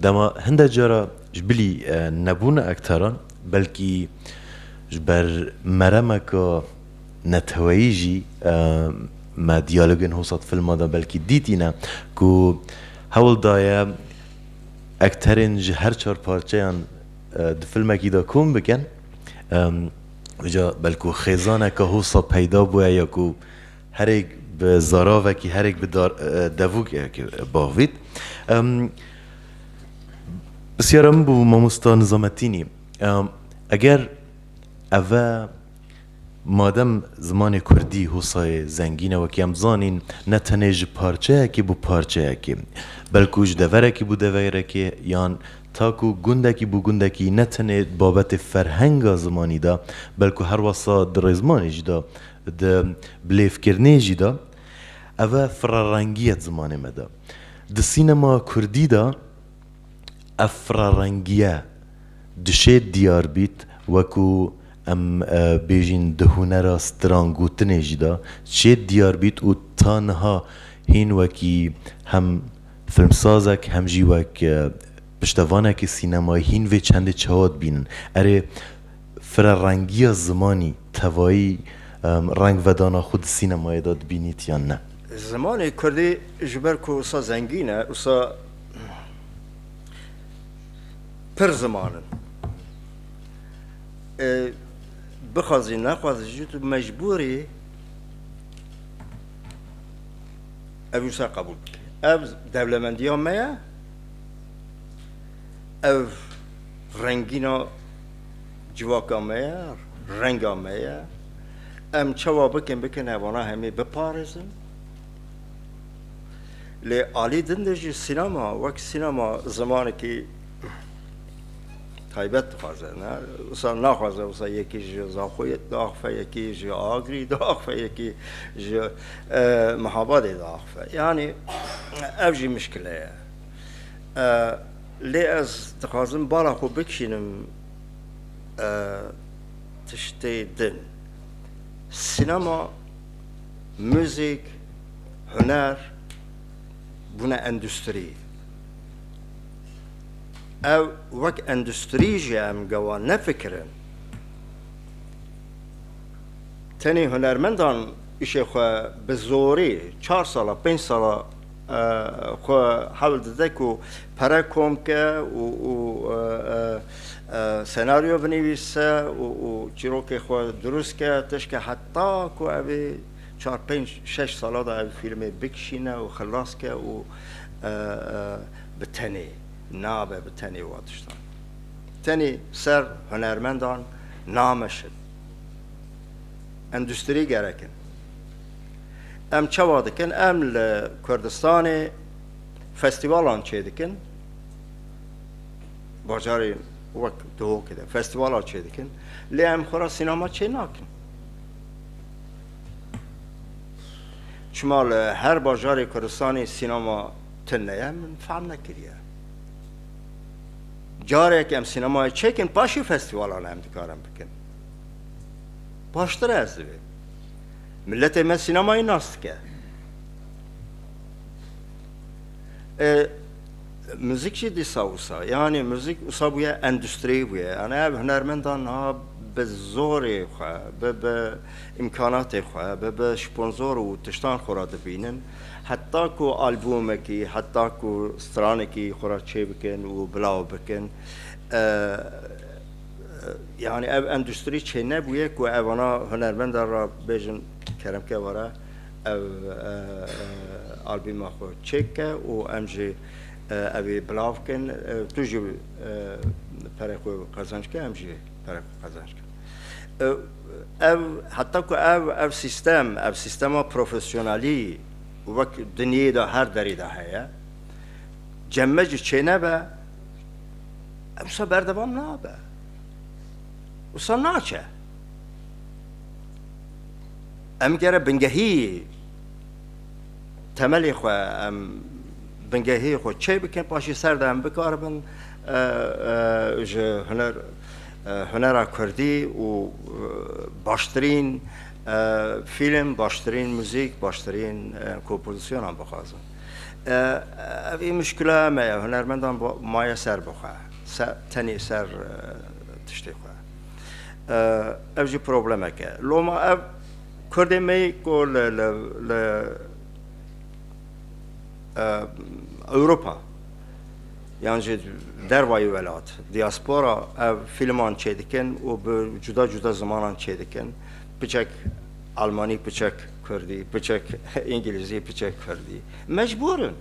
Dema hindek cara ji bilî nebûna ekteran belkî ji ber meremeke Neteweyî jî me diyalogên Hosat Filma de belkî dîtîne ku hewl daye ekterên ji her çar parçeyan di filmekî de kom bikin. Uca belku xêzaneke hosa peyda bûye ya ku herêk bi zaravekî herêk bi devûkekê bavît. Pirsyara min bû Mamosta Nizametînî eger eve Madem zimanê kurdî hosayê zengîn e wekî em zanîn ne tenê ji parçeyekî bo parçeyekî belkû ji deverekî bo deverekî yan ta ku gundekî bo gundekî ne tenê di babetê ferhenga zimanî de belkû herwasa di rêzmanê jî de di bilêvkirinê jî de ev e firarengî ye di zimanê me de. Di sînema kurdî de ev firarengîye dişê diyar bît wekû Em bêjîn di hunera strangotinê jî de çê diyar bît û ta niha hîn wekî hem filmsazek hem jî wek piştevanekî sînemayî hîn vê çendê çawa dibînin. Erê firerengiya zimanî tevayî rengvedana xwe di sînemayê de dibînît yan ne? Zimanê kurdî ji ber ku wisa zengîn e wisa pir ziman in. Bixwazî nexwazî jî tu mecbûr î ev wisa qebûl bikî. Ev dewlemendiya me ye, ev rengîna civaka me ye, renga me ye. Em çawa bikin bikin ev wana hemî biparêzin. Lê alî din de jî sînema wek sînema zimanekî taybet dixwaze ne wisa naxwaze wisa yekî ji Zaxoyê diaxife yekî ji Agrî diaxife yekî ji Mihabadê diaxife yanî ev jî mişkile ye lê ez dixwazim bala xwe bikişînim tiştê din sînema müzik huner bûne endustrî Ew wek endustrî jî em gewa nefikirin. Tenê hunermendan îşê xwe bi zorê çar sala, pênc sala xwe hewl dide ku pere kom bike û senaryo binivîse û çîrokê xwe dirûst bike, tişke heta ku ev ê çar, pênc, şeş sala de ew fîlmê bikişîne û xilas bike û bi tenê nabe bi tenê wa tiştan tenê ser hunermendan nameşin endustrî gerek in em çawa dikin em li Kurdistanê festîvalan çê dikin bajarê wek dihokê de festîvala çê dikin lê em xwe ra sînema çê nakin çima li her bajarê Kurdistanê sînema Tuneye min fehm nekiriye. Carek em sînemayê çêkin paşê festîvalan em dikarin bikin. Baştir e ez divê. Miletê me sînemayê nas dike. E, müzik jî dîsa wisa. Yani müzik wisa bûye endustriyê bûye. Yani ev hunermendan niha bi zorê xwe, bi bi îmkanatê xwe, bi bi sponzor û tiştan xwe re dibînin. Heta ku albûmekî, heta ku stranekî xwe re çêbikin û bilaw bikin, yanî ev endustrî çênebûye ku ev ana hunermenda re bêjin keremke were ev albîma xwe çêk bike û em jî evî bilav bikin. Tu jî perê xwe qezenc bike, em jî perê xwe qezenc bikin. Ev heta ku ev ev sîstem, ev sîstema profesyonalî wek dinyeyê de her derê de heye, cemme jî çênebe, ev wisa berdewam nabe. Wisa naçe. Em gere bingehî temelê xwe em bingehê xwe çê bikin paşê ser de em bikaribin ji huner Hunera Kurdî û baştirîn fîlm, baştirîn muzîk, baştirîn kompozîsyonan bixwazin. Ev ê muşkila me ye, hunermendan maye ser bi xwe, tenê ser tiştê xwe. Ev jî problemek e. Loma ev Kurdên me yê ku li Ewropa, yan jî dervayî welat, dîaspora ev fîlman çêdikin û bi cuda cuda zimanan çêdikin, piçek almanî, piçek kurdî, piçek îngîlîzî, piçek kurdî. Mecbûr in.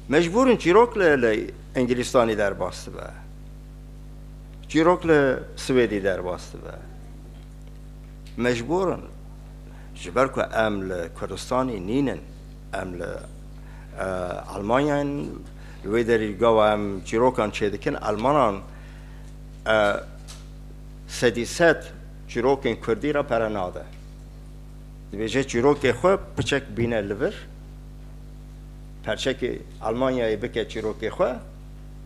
Mecbûr in çîrok li Îngîlîstanî derbas dibe. Çîrok li Swêdî derbas dibe. Mecbûr in. Ji ber ku em li Kurdistanî nînin. Em li Elmanyayê ne, li wê derê gawa em çîrokan çêdikin, Elmanan sedî sed çîrokên Kurdî re pere nade. Dibêje çîrokê xwe piçek bîne li vir, perçekê Elmanyayê bike çîrokê xwe,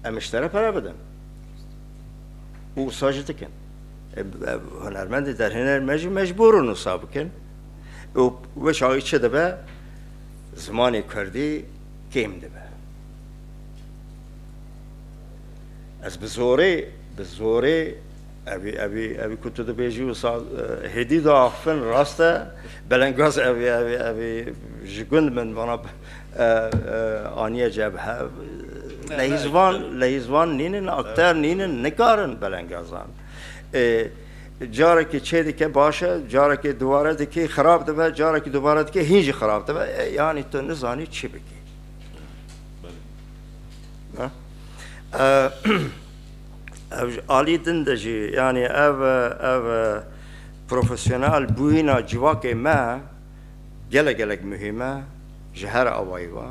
em ji te re pere bidin. Û wisa jî dikin. Hunermendê derhêner me jî mecbûr in wisa bikin. û weşa wî çi dibe zimanê kurdî kêm dibe. Ez bi zorê bi zorê Evi evi evi kutu de beji u sa hedi da afin raste belengaz evi evi evi jigund men bana aniye cebhe lehizvan lehizvan ninin akter ninin nikarin belengazan. E, Carekê çêdike baş e, carekê dubare dikê xirab dibe, carekê dubare dikê hîn jî xirab dibe. E yanî tu nizanî çi bikî. Ev ji alî din de jî yanî ev ev profesyonel bûyîna civakê me gelek gelek muhîm e ji her awayî ve.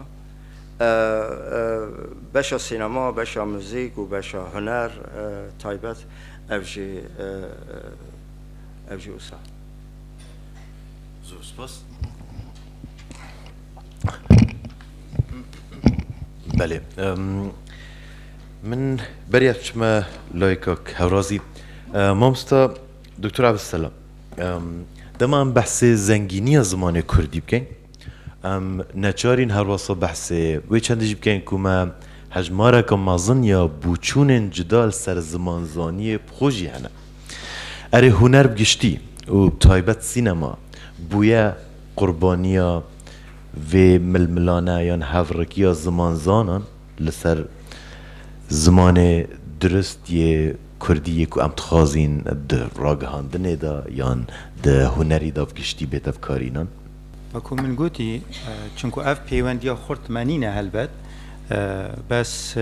Beşa sînema, beşa muzîk û beşa huner taybet Ev jî ev jî wisa. Zor spas. Belê. Min beriya çime layka Hewrazî. Mamsta Doktor Abdusselam. Dema em behsê zengîniya zimanê Kurdî bikin, em neçarîn herwasa behsê wê çendê jî bikin ku me Hejmareke mezin ya bûçûnên cuda li ser zimanzaniyê bi xwe jî hene. Erê huner bi giştî û bi taybet sînema bûye qurbaniya vê milmilane yan hevrikiya zimanzanan li ser zimanê dirust yê kurdî yê ku em dixwazîn di ragihandinê de yan di hunerî de bi giştî bê tevkarînan. Wekû min gotî çimkû ev pêwendiya xurtmenî ne helbet bes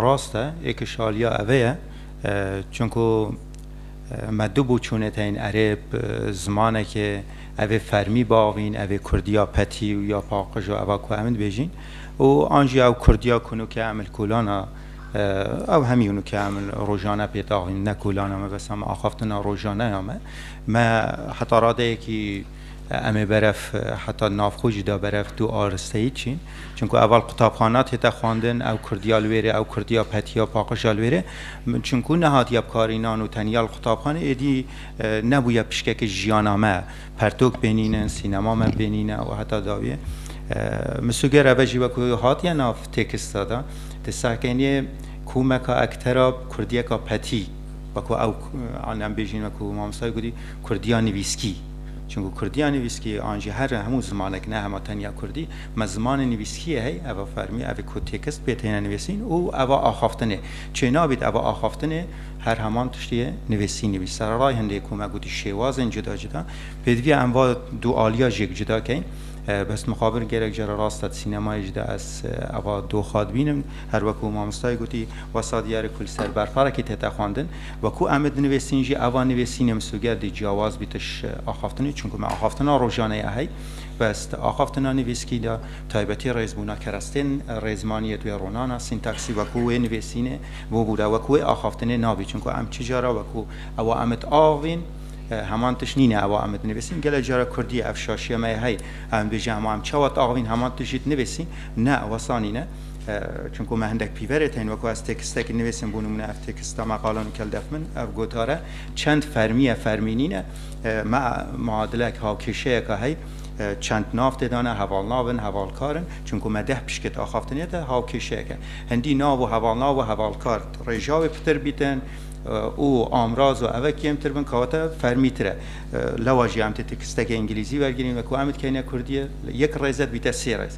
rast e ê ke şaliya eve ye çimkû me du boçûnet heyên erêb zimanekê evê fermî biavîn evê kurdiya petî û ya paqij û eva ku em dibêjîn û an jî ew kurdiya ku nûkê em li kolan a ew hemî nûkê em li rojane pê daxîn ne kolan a me bes em axaftina rojane ya me. Me heta radeyekî em ê berev heta navxwe jî da berev tu aristeyî çi? Çunku eval qutabxana tête xwendin, ew kurdiya li wêrê, ew kurdiya petiya paqija li wêrê. Çunku nehatiye bikarînan û teniya li qutabxanê êdî nebûye pişkeke jiyana me. Pertok bênînin, sînema me bênîne û heta dawiyê. Misûger eve jî wek hatiye nav têkista de, di serkêniyê komeka ektera kurdiyeka petî, Wekû ew an em bêjîn wekû mamostayê gotî Kurdiya nivîskî. Çunku Kurdiya nivîskî an jî her hemû zimanek ne hema tenya Kurdî me zimanê nivîskiyê heye ev a fermî ev ê ku têkist pê têne nivîsîn û ev a axaftinê çê nabît ev a axaftinê her heman tiştî yê nivîsîn nivîs sereray hindê ku me gotî şêwazên cuda cuda pêdiviya em va du aliya jêk cuda keyn bes mixabir gerek cara rast e di sînemayê jî de ez ev a doxa dibînim. Her wek ku mamostayê gotî wesa diyarek ku li ser berxwerekî tête xwendin, wek ku em ê dinivêsîn jî eva nivêsînê misûger dê ciyawaz bî tiş axaftinê çunku me axaftina rojane ye hey ve sti axaftina nivîskî de taybetî rêzbûna kerestên rêzmaniyê tu yê ronana sîntaksî wek ku wê nivêsînê bûbûre wek ku wê axaftinê nabî çunku em çi cara wek ku ewa em it avîn heman tiş nîne ewa em it nivêsîn gelek cara kurdiyê ev şaşiya me ye hey em dibêjin ewa em çawa it avîn heman tiş jî dinivêsîn ne wesa nîne. Çimku me hindek pîverê tên weko ez têkistekî nivîsim bû nimûne ev têkista me qala nikel def min ev gotar e çend fermî ye fermî nîn e me muadilek hawkêşeyeka hey çend nav tê dane hevalnav in hevalkar in çimku me deh pişkê di axaftinê de hawkêşeyek e hindî nav û hevalnav û hevalkar rêja wê pitir bîtin û amraz û eve kêmtir bin kewate fermîtir e lewa jî em tê têkistekê îngilîzî wergirîn weko em dikeyne kurdî yek rêze dibîte sê rêz.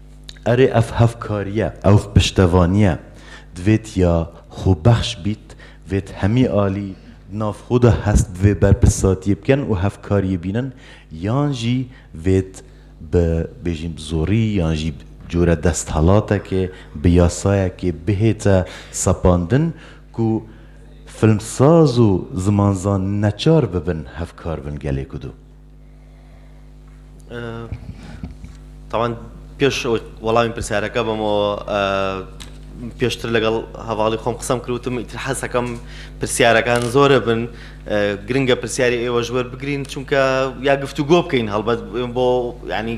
Erê ev hevkariye, ew piştevaniye divêt ya xwebexş bît, divêt hemî alî di nav xwe de hest bi vê berpirsatiyê bikin û hevkariyê bînin yan jî divêt bi bêjin bi zorî yan jî bi cure desthelatekê, bi yasayekê bihête sepandin ku filmsaz û zimanzan neçar bibin hevkar bin gelê ku do. Taban pêş ew welamê pirsiyareke bim û pêştir legal hevalî xwe qisem kir wtim îtir heseke min pirsiyareken zor e bin giring e pirsiyarê êwe ji wer bigirîn çunke ya giftûgo bikeyn helbet bo yanî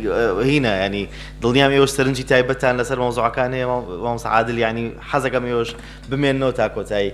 hîne yanî dilniyam êwe ji serincî taybet an li ser mewzuekan heye mamosta Adil yanî hezeke min êwe bimênine û ta kotayî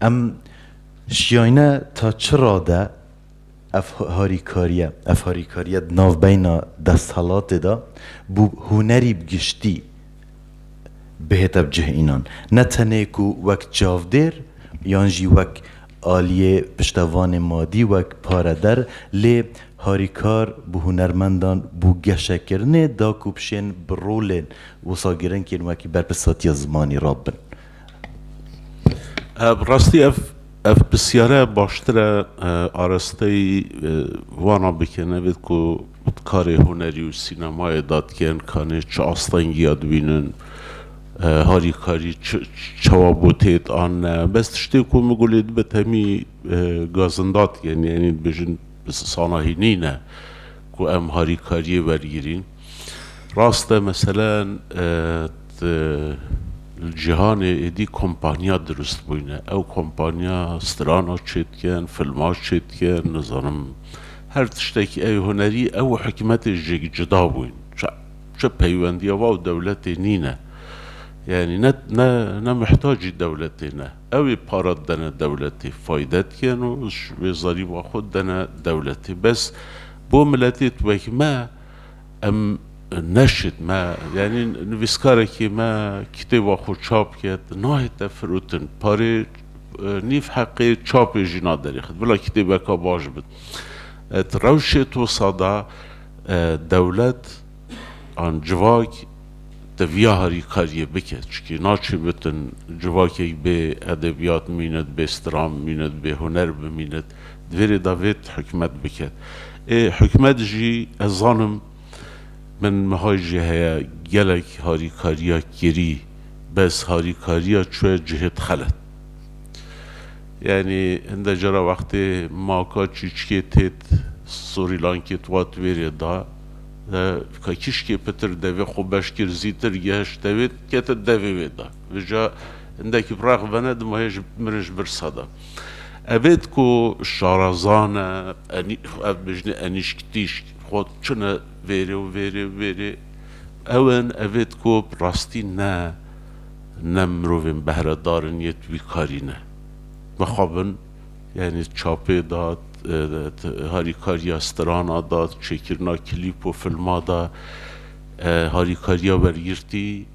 Em şiyayne ta çi rade ev harîkariye, ev harîkariye di navbeyna desthilatê de bû hunerî bi giştî bihête bi cih înan. Ne tenê ku wek çavdêr yan jî wek aliyê piştevanê madî, wek pareder lê harîkar bi hunermendan bû geşekirinê da ku bişên bi rolên wisa giring yên wekî berpirsatiya zimanî re bin. Bi rastî ev ev pisyare baştir e arasteyî wana bike nevêt ku karê hunerî û sînemayê dadgehên kanê çi astengîya dibînin, harîkarî çawa bo têt anne. Bes tiştê ku min gulê dibe temî gazindatgehên yanî dibêjin sanahî nîne ku em harîkarîyê wergirîn. Rast e meselen di li cîhanê êdî kompaniya dirust bûyne. Ew kompaniya strana çê dikin, filma çê dikin, nizanim her tiştekî ey hunerî ew û hikûmetê ji yekî cuda bûyn. Çi peywendiya wan û dewletê nîne. Yanî ne ne ne mihtacî dewletê ne. Ew ê para didene dewletê, fayde dikin û ji wê zarîba xwe didene dewletê. Bes bo miletê wek me, Em neşit me yanî nivîskarekî me kitêba xwe çap ket nahête firotin. Parê nîv heqê çapê jî naderîxit. Bila kitêbeka baş bit. Di rewşê tosa de dewlet an civak teviya harîkariyê bike. Çikî naçê bitin civakek bê edebiyat bimînit, bê stram bimînit, bê huner bimînit. Divê rê da vêt hikûmet bike. Ê hikûmet jî ez zanim min mehay jî heye gelek harîkariya kirî bes harîkariya çuye cihê dixele. Yanî hinde cara wextê maka çîçikê têt Sorîlankê tuwa divê rê da de ka kîşkê pitir devê xwe beş kir zîtir geheşt tevê dikete devê wê da. Vêca hindekî rex vene dima hê ji min ji birsa da. Evêt ku şarazan e, ev dijî enîşk tîşk xwe çine vêrê û vêrê û vêrê. Ew in evêt ku bi rastî ne ne mirovên behredar in yê tu wî karî ne. Mixabin yanî çapê da, harîkariya strana da, çêkirina klîp û filma da, harîkariya wergirtî,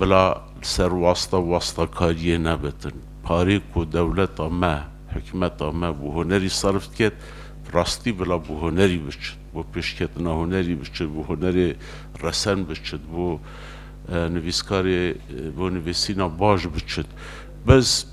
Bila li ser wasta wastakariyê nebitin. Parê ku dewleta me, hikûmeta me bo hunerî serf diket, bi rastî bila bo hunerî biçit, bo pêşketina hunerî biçit, bo hunerê resen biçit, bo nivîskarê bo nivîsîna baş biçit. Bez.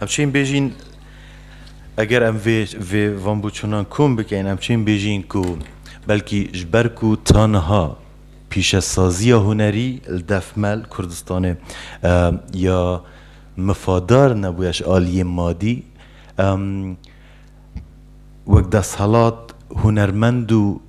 Em çên bêjîn eger em vê vê van bûçûnan kom bikein em çên bêjîn ku belkî ji ber ku taniha pîşesaziya hunerî li defmel Kurdistanê ya mifadar nebûye ji aliyê madî wek desthilat hunermend û